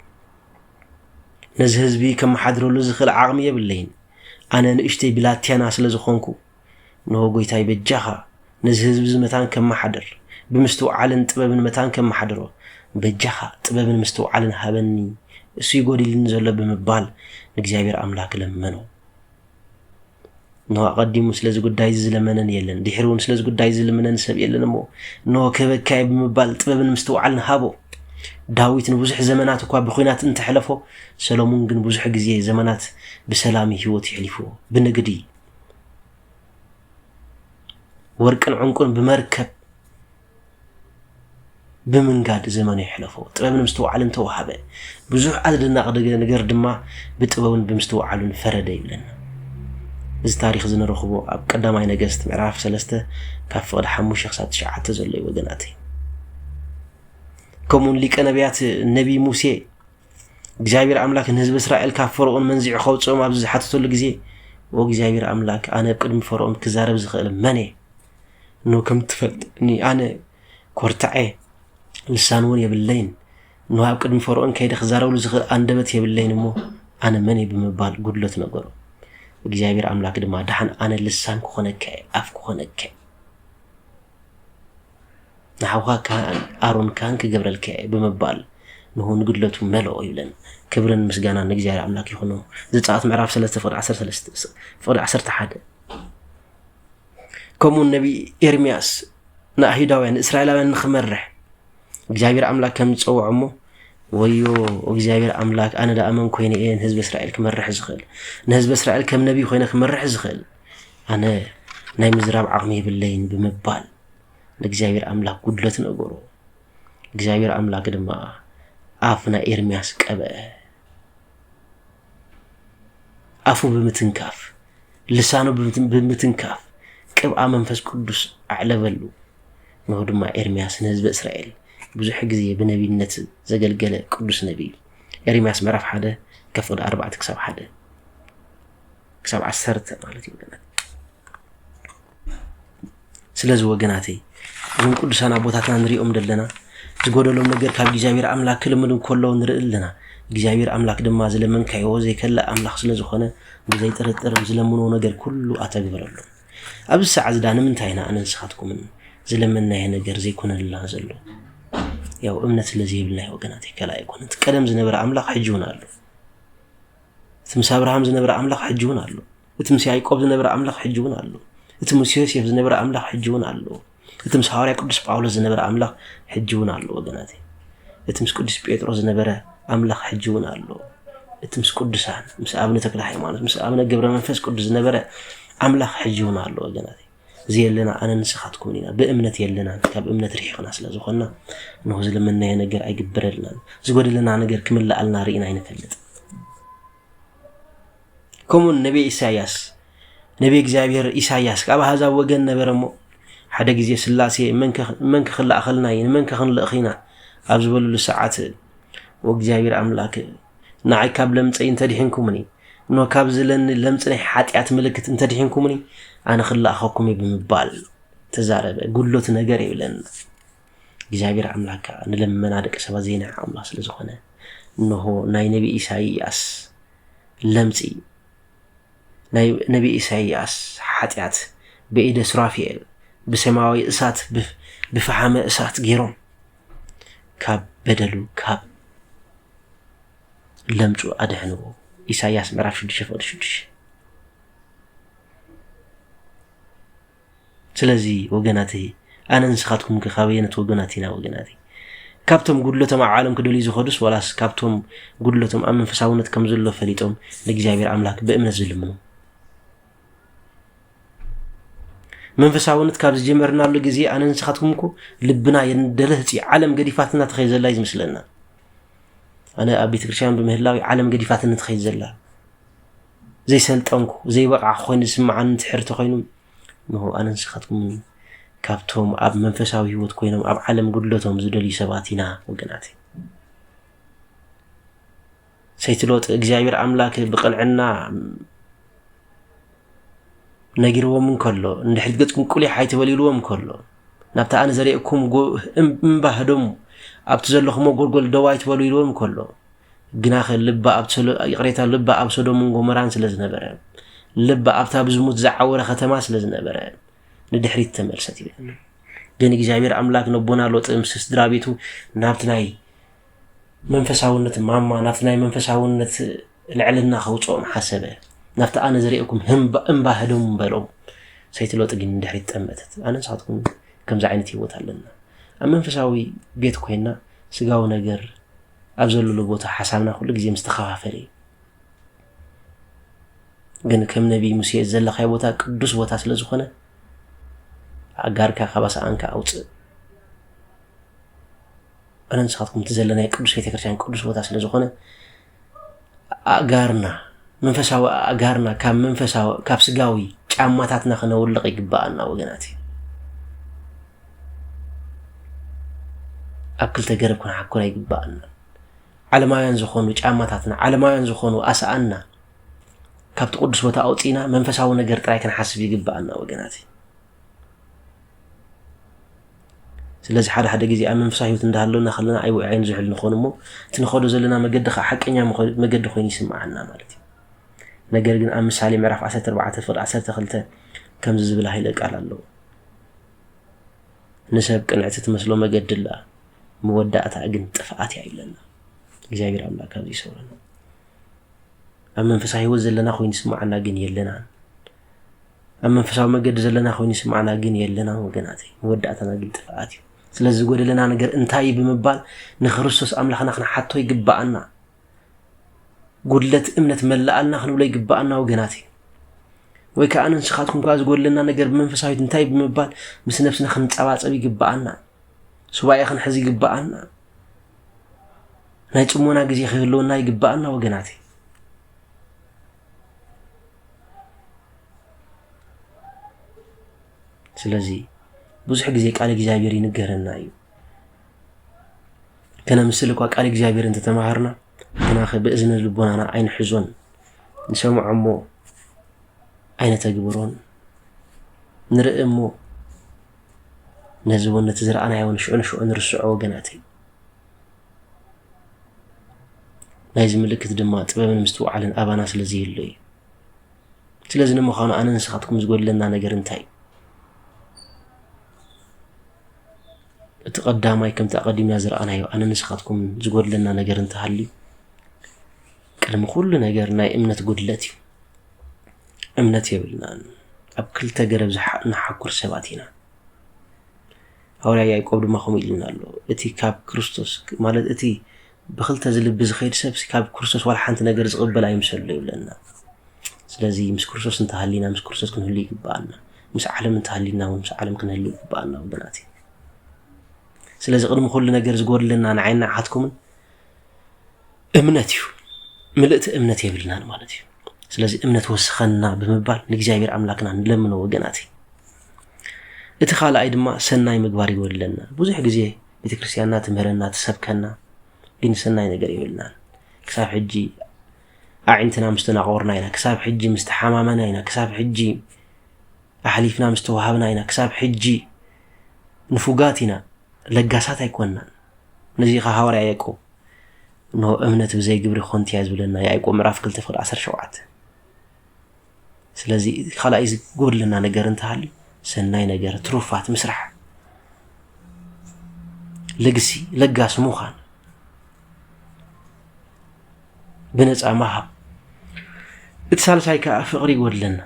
ነዚ ህዝቢ ከመሓድረሉ ዝኽእል ዓቕሚ የብለይን ኣነ ንእሽተይ ብላቴና ስለ ዝኾንኩ ንሆ ጎይታይ በጃኻ ነዚ ህዝቢ እዚ መታን ከመሓድር ብምስትውዓልን ጥበብን መታን ከመሓድሮ በጃኻ ጥበብን ምስትውዓልን ሃበኒ እሱ ይጎዲልኒ ዘሎ ብምባል ንእግዚኣብሔር ኣምላክ ለመኖ እነሆ ኣቐዲሙ ስለዚ ጉዳይ እዚ ዝለመነን የለን፣ ድሒሩ እውን ስለዚ ጉዳይ እዚ ዝልምነን ሰብ የለን እሞ እነሆ ክህበካየ ብምባል ጥበብን ምስትውዓልን ሃቦ። ዳዊት ንብዙሕ ዘመናት እኳ ብኲናት እንተሕለፎ፣ ሰሎሙን ግን ብዙሕ ግዜ ዘመናት ብሰላም ህይወት የሕሊፉ። ብንግዲ ወርቅን ዕንቁን ብመርከብ ብምንጋድ ዘመኑ የሕለፎ። ጥበብ ንምስትውዓልን ተዋህበ። ብዙሕ ኣደደናቂ ነገር ድማ ብጥበቡን ብምስትውዓሉን ፈረደ ይብለና። እዚ ታሪክ እዚ ንረኽቦ ኣብ ቀዳማይ ነገስት ምዕራፍ ሰለስተ ካብ ፍቕዲ ሓሙሽተ ክሳብ ትሽዓተ ዘሎ እዩ ወገናት ከምኡውን ሊቀ ነቢያት ነቢ ሙሴ እግዚኣብሔር ኣምላክ ንህዝቢ እስራኤል ካብ ፈርኦን መንዚዑ ከውፅኦም ኣብዚ ዝሓተተሉ ግዜ ወእግዚኣብሔር ኣምላክ ኣነ ኣብ ቅድሚ ፈርኦን ክዛረብ ዝኽእል መን እየ እኖ ከም እትፈልጥኒ ኣነ ኮርታዕ እየ፣ ልሳን እውን የብለይን። እኖ ኣብ ቅድሚ ፈርኦን ከይደ ክዛረብሉ ዝኽእል ኣንደበት የብለይን እሞ ኣነ መን እየ ብምባል ጉድለት ነገሩ። እግዚኣብሔር ኣምላክ ድማ ድሓን ኣነ ልሳን ክኾነካ እየ፣ ኣፍ ክኾነካ እየ፣ ንሓውካ ካህን ኣሮን ካህን ክገብረልካ እየ ብምባል ንሁ ንጉድለቱ መለኦ ይብለን። ክብርን ምስጋና ንእግዚኣብሔር ኣምላክ ይኹኖ። ዘጸኣት ምዕራፍ 3 ፍቕዲ 13 ፍቕዲ 11 ከምኡውን ነቢይ ኤርምያስ ንኣይሁዳውያን ንእስራኤላውያን ንክመርሕ እግዚኣብሔር ኣምላክ ከም ዝፀውዖ እሞ ወዮ እግዚኣብሔር ኣምላክ ኣነ ዳኣ መን ኮይነ እየ ንህዝቢ እስራኤል ክመርሕ ዝኽእል ንህዝቢ እስራኤል ከም ነቢይ ኮይነ ክመርሕ ዝኽእል ኣነ ናይ ምዝራብ ዓቕሚ የብለይን ብምባል ንእግዚኣብሔር ኣምላክ ጉድለት ነገሮ እግዚኣብሔር ኣምላክ ድማ ኣፍ ናይ ኤርምያስ ቀበአ ኣፉ ብምትንካፍ ልሳኑ ብምትንካፍ ቅብኣ መንፈስ ቅዱስ ኣዕለበሉ። ንሆ ድማ ኤርምያስ ንህዝበ እስራኤል ብዙሕ ግዜ ብነቢነት ዘገልገለ ቅዱስ ነቢይ ኤርምያስ ምዕራፍ ሓደ ከፍቕዲ ኣርባዕተ ክሳብ ሓደ ክሳብ ዓሰርተ ማለት እዩ። ስለዚ ወገናተይ እዞም ቅዱሳን ኣቦታትና ንሪኦም ዘለና ዝጎደሎም ነገር ካብ እግዚኣብሔር ኣምላክ ክልምኑ ከሎ ንርኢ ኣለና እግዚኣብሔር ኣምላክ ድማ ዝለመንካዮ ዘይከልእ ኣምላክ ስለዝኾነ ብዘይጥርጥር ዝለምንዎ ነገር ኩሉ ኣተግብረሉ ኣብዚ ሰዓ ዝዳ ንምንታይ ኢና ኣነ ንስኻትኩምን ዝለመናየ ነገር ዘይኮነልና ዘሎ ያው እምነት ስለዘይብልና ወገናተይ ከላ ኣይኮነት ቀደም ዝነበረ ኣምላክ ሕጂ እውን ኣሎ እቲ ምስ ኣብርሃም ዝነበረ ኣምላኽ ሕጂ እውን ኣሎ እቲ ምስ ያዕቆብ ዝነበረ ኣምላኽ ሕጂ እውን ኣሎ እቲ ምስ ዮሴፍ ዝነበረ ኣምላኽ ሕጂ እውን ኣሎ እቲ ምስ ሃዋርያ ቅዱስ ጳውሎስ ዝነበረ ኣምላኽ ሕጂ እውን ኣሎ ወገናት እቲ ምስ ቅዱስ ጴጥሮስ ዝነበረ ኣምላኽ ሕጂ እውን ኣሎ እቲ ምስ ቅዱሳን ምስ ኣብነ ተክለ ሃይማኖት ምስ ኣብነ ገብረ መንፈስ ቅዱስ ዝነበረ ኣምላኽ ሕጂ እውን ኣሎ ወገናት ዘየለና ኣነ ንስኻትኩምን ኢና ብእምነት የለናን ካብ እምነት ርሒቕና ስለ ዝኾንና እንሆ ዝለመናዮ ነገር ኣይግበረልናን ዝጎደለና ነገር ክምልኣልና ርኢና ኣይንፈልጥ ከምኡ ነቢይ ኢሳያስ ነቢይ እግዚኣብሔር ኢሳያስ ካብ ኣህዛብ ወገን ነበረ እሞ ሓደ ግዜ ስላሴ መን ክኽላእኸልና እዩ ንመን ከክንልእኽ ኢና ኣብ ዝበልሉ ሰዓት እግዚኣብሔር ኣምላክ ንዓይ ካብ ለምጸይ እንተ ድሒንኩምኒ፣ እንሆ ካብዚ ለኒ ለምጽ ናይ ሓጢኣት ምልክት እንተ ድሒንኩምኒ፣ ኣነ ክለኣኸኩም እዩ ብምባል ተዛረበ። ጉድሎት ነገር የብለና። እግዚኣብሔር ኣምላክ ከዓ ንለመና ደቂ ሰባት ዘይንዕ ኣምላክ ስለ ዝኾነ እንሆ ናይ ነቢ ኢሳይያስ ለምጺ ናይ ነቢ ኢሳይያስ ሓጢኣት በኢደ ሱራፊኤል ብሰማያዊ እሳት ብፈሓመ እሳት ገይሮም ካብ በደሉ ካብ ለምጹ ኣድሕንዎ ኢሳያስ ምዕራፍ ሽዱሽተ ፍቕዲ ሽዱሽተ ስለዚ ወገናተይ ኣነ ንስኻትኩም ከ ካበየነት ወገናት ኢና ወገናተይ ካብቶም ጉድለቶም ኣብ ዓለም ክደልዩ ዝኸዱስ ዋላስ ካብቶም ጉድለቶም ኣብ መንፈሳውነት ከም ዘሎ ፈሊጦም ንእግዚኣብሔር ኣምላክ ብእምነት ዝልምኑ መንፈሳውነት ካብ ዝጀመርናሉ ግዜ ኣነ ንስኻትኩም እኮ ልብና የንደለህፂ ዓለም ገዲፋትና ትኸይ ዘላ እዩ ዝምስለና ኣነ ኣብ ቤተ ክርስትያን ብምህላዊ ዓለም ገዲፋትኒ ትኸይ ዘላ ዘይሰልጠንኩ ዘይበቕዓ ኮይኑ ዝስምዓኒ ትሕርቲ ኮይኑ ንሆ ኣነ ንስኻትኩም ካብቶም ኣብ መንፈሳዊ ህይወት ኮይኖም ኣብ ዓለም ጉድለቶም ዝደልዩ ሰባት ኢና ወገናት ሰይቲ ሎጥ እግዚኣብሔር ኣምላክ ብቅንዕና ነጊርዎም እንከሎ እንድሕሪ ገጽኩም ቁሊሕ ኣይተበሊልዎም እንከሎ ናብቲ ኣነ ዘርእኩም እምባ ህደሙ ኣብቲ ዘለኹሞ ጎልጎል ደው ኣይትበሉ ኢልዎም እንከሎ ግናኸ ልባ ይቕሬታ ልባ ኣብ ሶዶምን ጎመራን ስለ ዝነበረ ልባ ኣብታ ብዝሙት ዝዓወረ ከተማ ስለ ዝነበረ ንድሕሪት ተመልሰት ይብል ግን እግዚኣብሔር ኣምላክ ነቦና ሎጥ ምስ ስድራ ቤቱ ናብቲ ናይ መንፈሳውነት ማማ ናብቲ ናይ መንፈሳውነት ልዕልና ከውፅኦም ሓሰበ ናብቲ ኣነ ዝርእኩም እምባ ህደሙ በሎም ሰይቲ ሎጥ ግን ድሕሪት ጠመተት ኣነ ንሳትኩም ከምዚ ዓይነት ህይወት ኣለና ኣብ መንፈሳዊ ቤት ኮይና ስጋዊ ነገር ኣብ ዘለሉ ቦታ ሓሳብና ኩሉ ግዜ ምስተኸፋፈለ እዩ ግን ከም ነቢይ ሙሴ ዘለካይ ቦታ ቅዱስ ቦታ ስለ ዝኾነ ኣጋርካ ካብ ኣስኣንካ ኣውፅእ ኣነ ንስኻትኩም እቲ ዘለናይ ቅዱስ ቤተክርስትያን ቅዱስ ቦታ ስለ ዝኾነ ኣእጋርና መንፈሳዊ ኣእጋርና ካብ መንፈሳዊ ካብ ስጋዊ ጫማታትና ክነውልቕ ይግባኣና ወገናት እዩ ኣብ ክልተ ገረብ ክንሓኩር ኣይግባኣና ዓለማውያን ዝኾኑ ጫማታትና ዓለማውያን ዝኾኑ ኣስኣና ካብቲ ቅዱስ ቦታ ኣውፅእና መንፈሳዊ ነገር ጥራይ ክንሓስብ ይግባኣና ወገናት እዩ ስለዚ ሓደ ሓደ ግዜ ኣብ መንፈሳዊ ህይወት እንዳሃለና ከለና ኣይ ውዕይ ንዝሕል ንኾን እሞ እቲ ንኸዶ ዘለና መገዲ ከዓ ሓቀኛ መገዲ ኮይኑ ይስምዓና ማለት እዩ ነገር ግን ኣብ ምሳሌ ምዕራፍ 14 ፍቅዲ 12 ከምዚ ዝብል ሃይለ ቃል ኣለዎ ንሰብ ቅንዕቲ ትመስሎ መገዲ ኣላ መወዳእታ ግን ጥፍኣት እያ ይብለና እግዚኣብሔር ኣምላክ ካብዚ ይሰውረና ኣብ መንፈሳዊ ህይወት ዘለና ኮይኑ ይስምዓና ግን የለናን ኣብ መንፈሳዊ መገዲ ዘለና ኮይኑ ይስምዓና ግን የለናን ወገናት መወዳእታና ግን ጥፍኣት እዩ ስለዚ ዝጎደለና ነገር እንታይ እዩ ብምባል ንክርስቶስ ኣምላኽና ክንሓቶ ይግባኣና ጉድለት እምነት መላኣልና ክንብሎ ይግባኣና ወገናት እዩ ወይ ከዓ ንስኻትኩም ከዓ ዝጎደለና ነገር ብመንፈሳዊት እንታይ ብምባል ምስ ነብስና ክንፀባፀብ ይግባኣና ሱባኤ ክንሕዝ ይግባኣና ናይ ፅሞና ግዜ ክህልወና ይግባኣና ወገናት እዩ ስለዚ ብዙሕ ግዜ ቃል እግዚኣብሔር ይንገረና እዩ ከነምስል እኳ ቃል እግዚኣብሔር እንተተማሃርና ግናኸ ብእዝነ ልቦናና ኣይንሕዞን ንሰምዖ እሞ ኣይነተግብሮን ንርኢ እሞ ነዚ እውን ነቲ ዝረኣናዮን ሽዑ ንሽዑ ንርስዖ ወገናት እዩ ናይዚ ምልክት ድማ ጥበብን ምስትውዓልን ኣባና ስለ ዘይህሉ እዩ ስለዚ ንምዃኑ ኣነ ንስኻትኩም ዝጎድለና ነገር እንታይ እዩ እቲ ቀዳማይ ከምቲ ኣቐዲምና ዝረኣናዮ ኣነ ንስኻትኩም ዝጎድለና ነገር እንተሃልዩ ቅድሚ ኩሉ ነገር ናይ እምነት ጉድለት እዩ እምነት የብልናን ኣብ ክልተ ገረብ ንሓኩር ሰባት ኢና ሃዋርያ ያእቆብ ድማ ከምኡ ኢሉና ኣሎ እቲ ካብ ክርስቶስ ማለት እቲ ብክልተ ዝልቢ ዝኸይድ ሰብሲ ካብ ክርስቶስ ዋላ ሓንቲ ነገር ዝቕበል ኣይምሰሎ ይብለና ስለዚ ምስ ክርስቶስ እንተሃሊና ምስ ክርስቶስ ክንህሉ ይግብኣና ምስ ዓለም እንተሃሊና እውን ምስ ዓለም ክንህሉ ይግብኣና ወገናት እዩ ስለዚ ቅድሚ ኩሉ ነገር ዝጎድለና ንዓይና ዓትኩምን እምነት እዩ ምልእቲ እምነት የብልናን ማለት እዩ ስለዚ እምነት ወስኸና ብምባል ንእግዚኣብሔር ኣምላክና ንለምኖ ወገናት እዩ እቲ ካልኣይ ድማ ሰናይ ምግባር ይጎድለና። ብዙሕ ግዜ ቤተ ክርስቲያንና ትምህረና ትሰብከና፣ ግን ሰናይ ነገር የብልናን። ክሳብ ሕጂ ኣዒንትና ምስ ተናቆርና ኢና፣ ክሳብ ሕጂ ምስ ተሓማመና ኢና፣ ክሳብ ሕጂ ኣሕሊፍና ምስ ተዋሃብና ኢና፣ ክሳብ ሕጂ ንፉጋት ኢና፣ ለጋሳት ኣይኮንናን። ነዚ ኸ ሃዋርያ ያዕቆብ እንሆ እምነት ብዘይ ግብሪ ኾንቲያ ዝብለና ያዕቆብ ምዕራፍ 2 ፍቅዲ 17 ስለዚ ካልኣይ ዝጎድለና ነገር እንተሃልዩ ሰናይ ነገር ትሩፋት ምስራሕ ልግሲ ለጋሲ ምዃን ብነፃ ምሃብ እቲ ሳልሳይ ከዓ ፍቕሪ ይጎድለና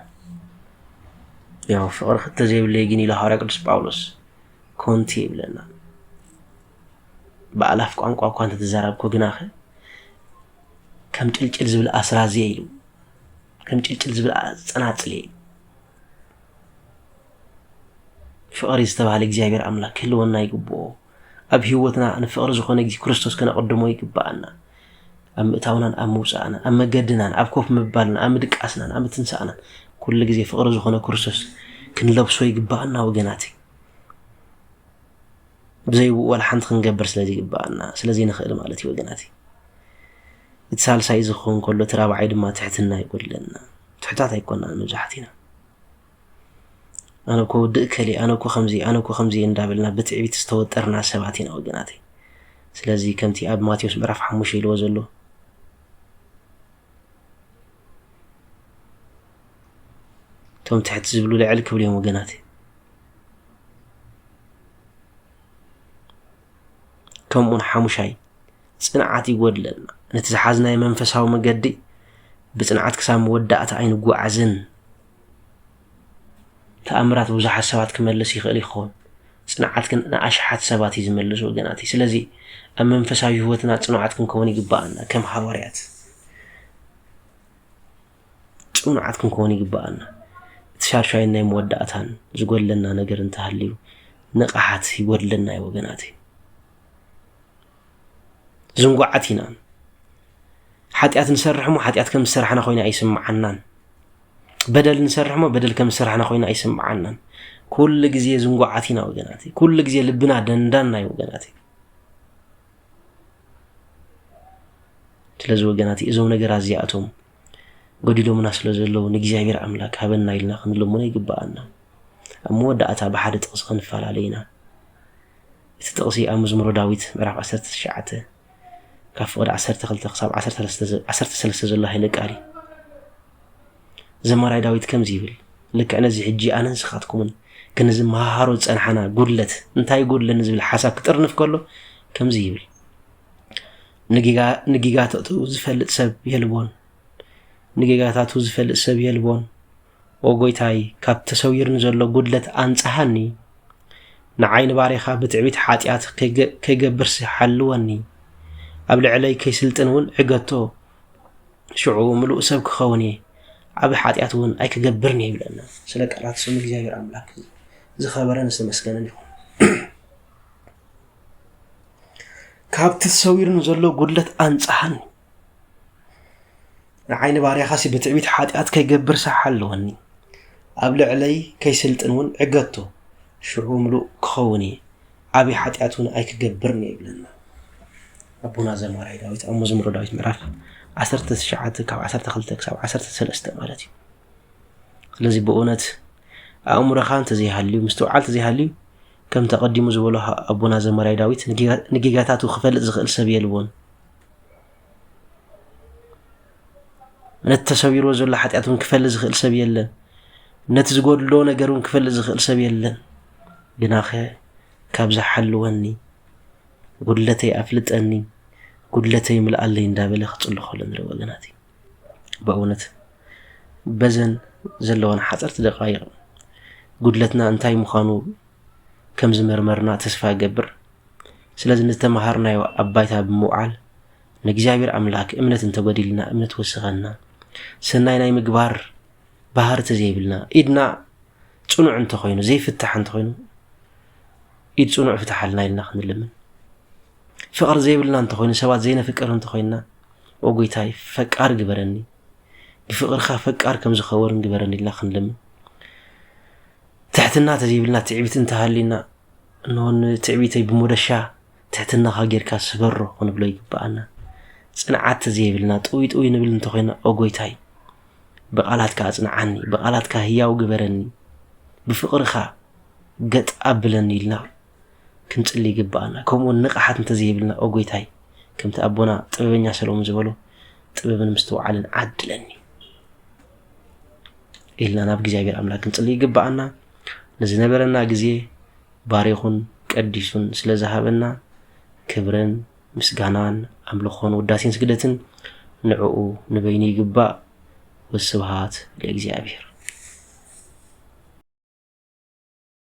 ያው ፍቕሪ ክተ ዘይብለይ ግን ኢሉ ሃዋርያ ቅዱስ ጳውሎስ ኮንቲ ይብለና ብኣላፍ ቋንቋ እኳ እንተተዛራብኩ ግናኸ ከም ጭልጭል ዝብል ኣስራዝየ ኢሉ ዕንጭልጭል ዝብል ጸናጽል እዩ ፍቕሪ ዝተባህለ እግዚኣብሔር ኣምላክ ክህልወና ይግብኦ ኣብ ህይወትና ንፍቕሪ ዝኾነ ግዜ ክርስቶስ ከነቐድሞ ይግብኣና ኣብ ምእታውናን ኣብ ምውፃእናን ኣብ መገድናን ኣብ ኮፍ ምባልና ኣብ ምድቃስናን ኣብ ምትንሳእናን ኩሉ ግዜ ፍቕሪ ዝኾነ ክርስቶስ ክንለብሶ ይግብኣና ወገናት ብዘይብኡ ዋላ ሓንቲ ክንገብር ስለ ዘይግብኣና ስለ ዘይንኽእል ማለት እዩ ወገናት። እቲ ሳልሳይ እዚ ክኸውን ከሎ እቲ ራብዓይ ድማ ትሕትና ይጎድለና። ትሕታት ኣይኮናን መብዛሕቲና። ኣነ እኮ ውድእ ከሊ ኣነ እኮ ከምዚ ኣነ እኮ ከምዚ እንዳበልና ብትዕቢት ዝተወጠርና ሰባት ኢና ወገናተይ። ስለዚ ከምቲ ኣብ ማቴዎስ ምዕራፍ ሓሙሽተ ኢልዎ ዘሎ እቶም ትሕቲ ዝብሉ ልዕል ክብሉ እዮም ወገናተይ። ከምኡውን ሓሙሻይ ፅንዓት ይጎድለና ነቲ ዝሓዝናዮ መንፈሳዊ መገዲ ብፅንዓት ክሳብ መወዳእታ ኣይንጓዓዝን ተኣምራት ብዙሓት ሰባት ክመልስ ይኽእል ይኸውን ፅንዓት ግን ንኣሽሓት ሰባት እዩ ዝመልስ ወገናት እዩ ስለዚ ኣብ መንፈሳዊ ህይወትና ፅኑዓት ክንከውን ይግባኣና ከም ሃዋርያት ጽኑዓት ክንከውን ይግብኣና። እቲ ሻድሻይን ናይ መወዳእታን ዝጎድለና ነገር እንተሃልዩ ንቕሓት ይጎድለና እዩ ወገናተይ። ዝንጉዓት ኢና። ሓጢኣት ንሰርሕ እሞ ሓጢኣት ከም ዝሰራሕና ኮይና ኣይስምዓናን። በደል ንሰርሕ እሞ በደል ከም ዝሰራሕና ኮይና ኣይስምዓናን። ኩሉ ግዜ ዝንጉዓት ኢና ወገናተይ። ኩሉ ግዜ ልብና ደንዳና እዩ ወገናተይ። ስለዚ ወገናት እዞም ነገራት እዚኣቶም ጎዲሎምና ስለ ዘለዉ ንእግዚኣብሔር ኣምላክ ሃበና ኢልና ክንልምኖ ይግብኣና ኣብ መወዳእታ ብሓደ ጥቕሲ ክንፈላለ ኢና እቲ ጥቕሲ ኣብ መዝሙሮ ዳዊት ምዕራፍ 19 ካብ ፍቕዲ 12 ክሳብ 13 ዘሎ ሃይለ ቃል እዩ ዘማራይ ዳዊት ከምዚ ይብል ልክዕ ነዚ ሕጂ ኣነ ንስኻትኩምን ግን እዚ መሃሃሮ ዝጸንሓና ጉድለት እንታይ ይጎድለኒ ዝብል ሓሳብ ክጥርንፍ ከሎ ከምዚ ይብል ንጌጋታቱ ዝፈልጥ ሰብ የልቦን ንጌጋታቱ ዝፈልጥ ሰብ የልቦን ኦ ጎይታይ ካብ ተሰዊርኒ ዘሎ ጉድለት ኣንጽሃኒ ንዓይ ንባሬኻ ብትዕቢት ሓጢኣት ከይገብርሲ ሓልወኒ ኣብ ልዕለይ ከይስልጥን እውን ዕገቶ ሽዑ ምሉእ ሰብ ክኸውን እየ፣ ዓቢ ሓጢኣት እውን ኣይክገብርን እየ ይብለና። ስለ ቃላት ስሙ እግዚኣብሔር ኣምላክ ዝኸበረን ዝተመስገነን ይኹን። ካብቲ ተሰዊሩ ንዘሎ ጉድለት ኣንጻሃኒ ንዓይኒ ባርያኻሲ ብትዕቢት ሓጢኣት ከይገብር ሳሕ ኣለወኒ ኣብ ልዕለይ ከይስልጥን እውን ዕገቶ ሽዑ ምሉእ ክኸውን እየ ዓብይ ሓጢኣት እውን ኣይክገብርን እየ ይብለና ኣቦና ዘማራይ ዳዊት ኣብ መዝሙረ ዳዊት ምዕራፍ 19 ካብ 12 ክሳብ 13 ማለት እዩ ስለዚ ብእውነት ኣእምሮኻ እንተዘይሃልዩ ምስትውዓል እንተዘይሃልዩ ከም ተቐዲሙ ዝበሎ ኣቦና ዘማራይ ዳዊት ንጌጋታቱ ክፈልጥ ዝኽእል ሰብ የልቦን ነቲ ተሰቢርዎ ዘሎ ሓጢኣት እውን ክፈልጥ ዝኽእል ሰብ የለን ነቲ ዝጎድሎ ነገር እውን ክፈልጥ ዝኽእል ሰብ የለን ግናኸ ካብዚ ሓልወኒ ጉድለተይ ኣፍልጠኒ ጉድለተይ ምልኣለይ እንዳበለ ክፅሉ ከሎ ንሪኦ ኣለና እቲ በእውነት በዘን ዘለዋን ሓፀርቲ ደቃይቕ ጉድለትና እንታይ ምዃኑ ከም ዝመርመርና ተስፋ ገብር ስለዚ ንዝተመሃርናዮ ኣብ ባይታ ብምውዓል ንእግዚኣብሔር ኣምላክ እምነት እንተጎዲልና እምነት ወስኸና ሰናይ ናይ ምግባር ባህር ተዘይብልና ኢድና ፅኑዕ እንተኾይኑ ዘይፍታሕ እንተኾይኑ ኢድ ፅኑዕ ፍትሓልና ኢልና ክንልምን ፍቅሪ ዘይብልና እንተኾይኑ ሰባት ዘይነፍቅር እንተኾይንና ኦ ጎይታይ ፈቃር ግበረኒ ብፍቅርካ ፈቃር ከም ዝኸወርን ግበረኒ ኢልና ክንልምን ትሕትና ተዘይብልና ትዕቢት እንተሃሊና እነሆ ንትዕቢተይ ብሞደሻ ትሕትናኻ ጌርካ ስበሮ ክንብሎ ይግብኣና። ጽንዓት ተዘይብልና ጥውይ ጥውይ ንብል እንተኾይና ኦ ጎይታይ ብቓላትካ ኣጽንዓኒ፣ ብቓላትካ ህያው ግበረኒ፣ ብፍቕርኻ ገጥ ኣብለኒ ኢልና ክንጽሊ ይግብኣና። ከምኡውን ንቕሓት እንተዘይብልና ኦ ጎይታይ ከምቲ ኣቦና ጥበበኛ ሰለሙን ዝበሎ ጥበብን ምስትውዓልን ዓድለኒ ኢልና ናብ እግዚኣብሔር ኣምላክ ክንጽሊ ይግብኣና። ንዝነበረና ግዜ ባሪኹን ቀዲሱን ስለ ዝሃበና ክብርን ምስጋናን ኣምልኾን ውዳሴን ስግደትን ንዕኡ ንበይኑ ይግባእ። ወስብሃት ለእግዚኣብሔር።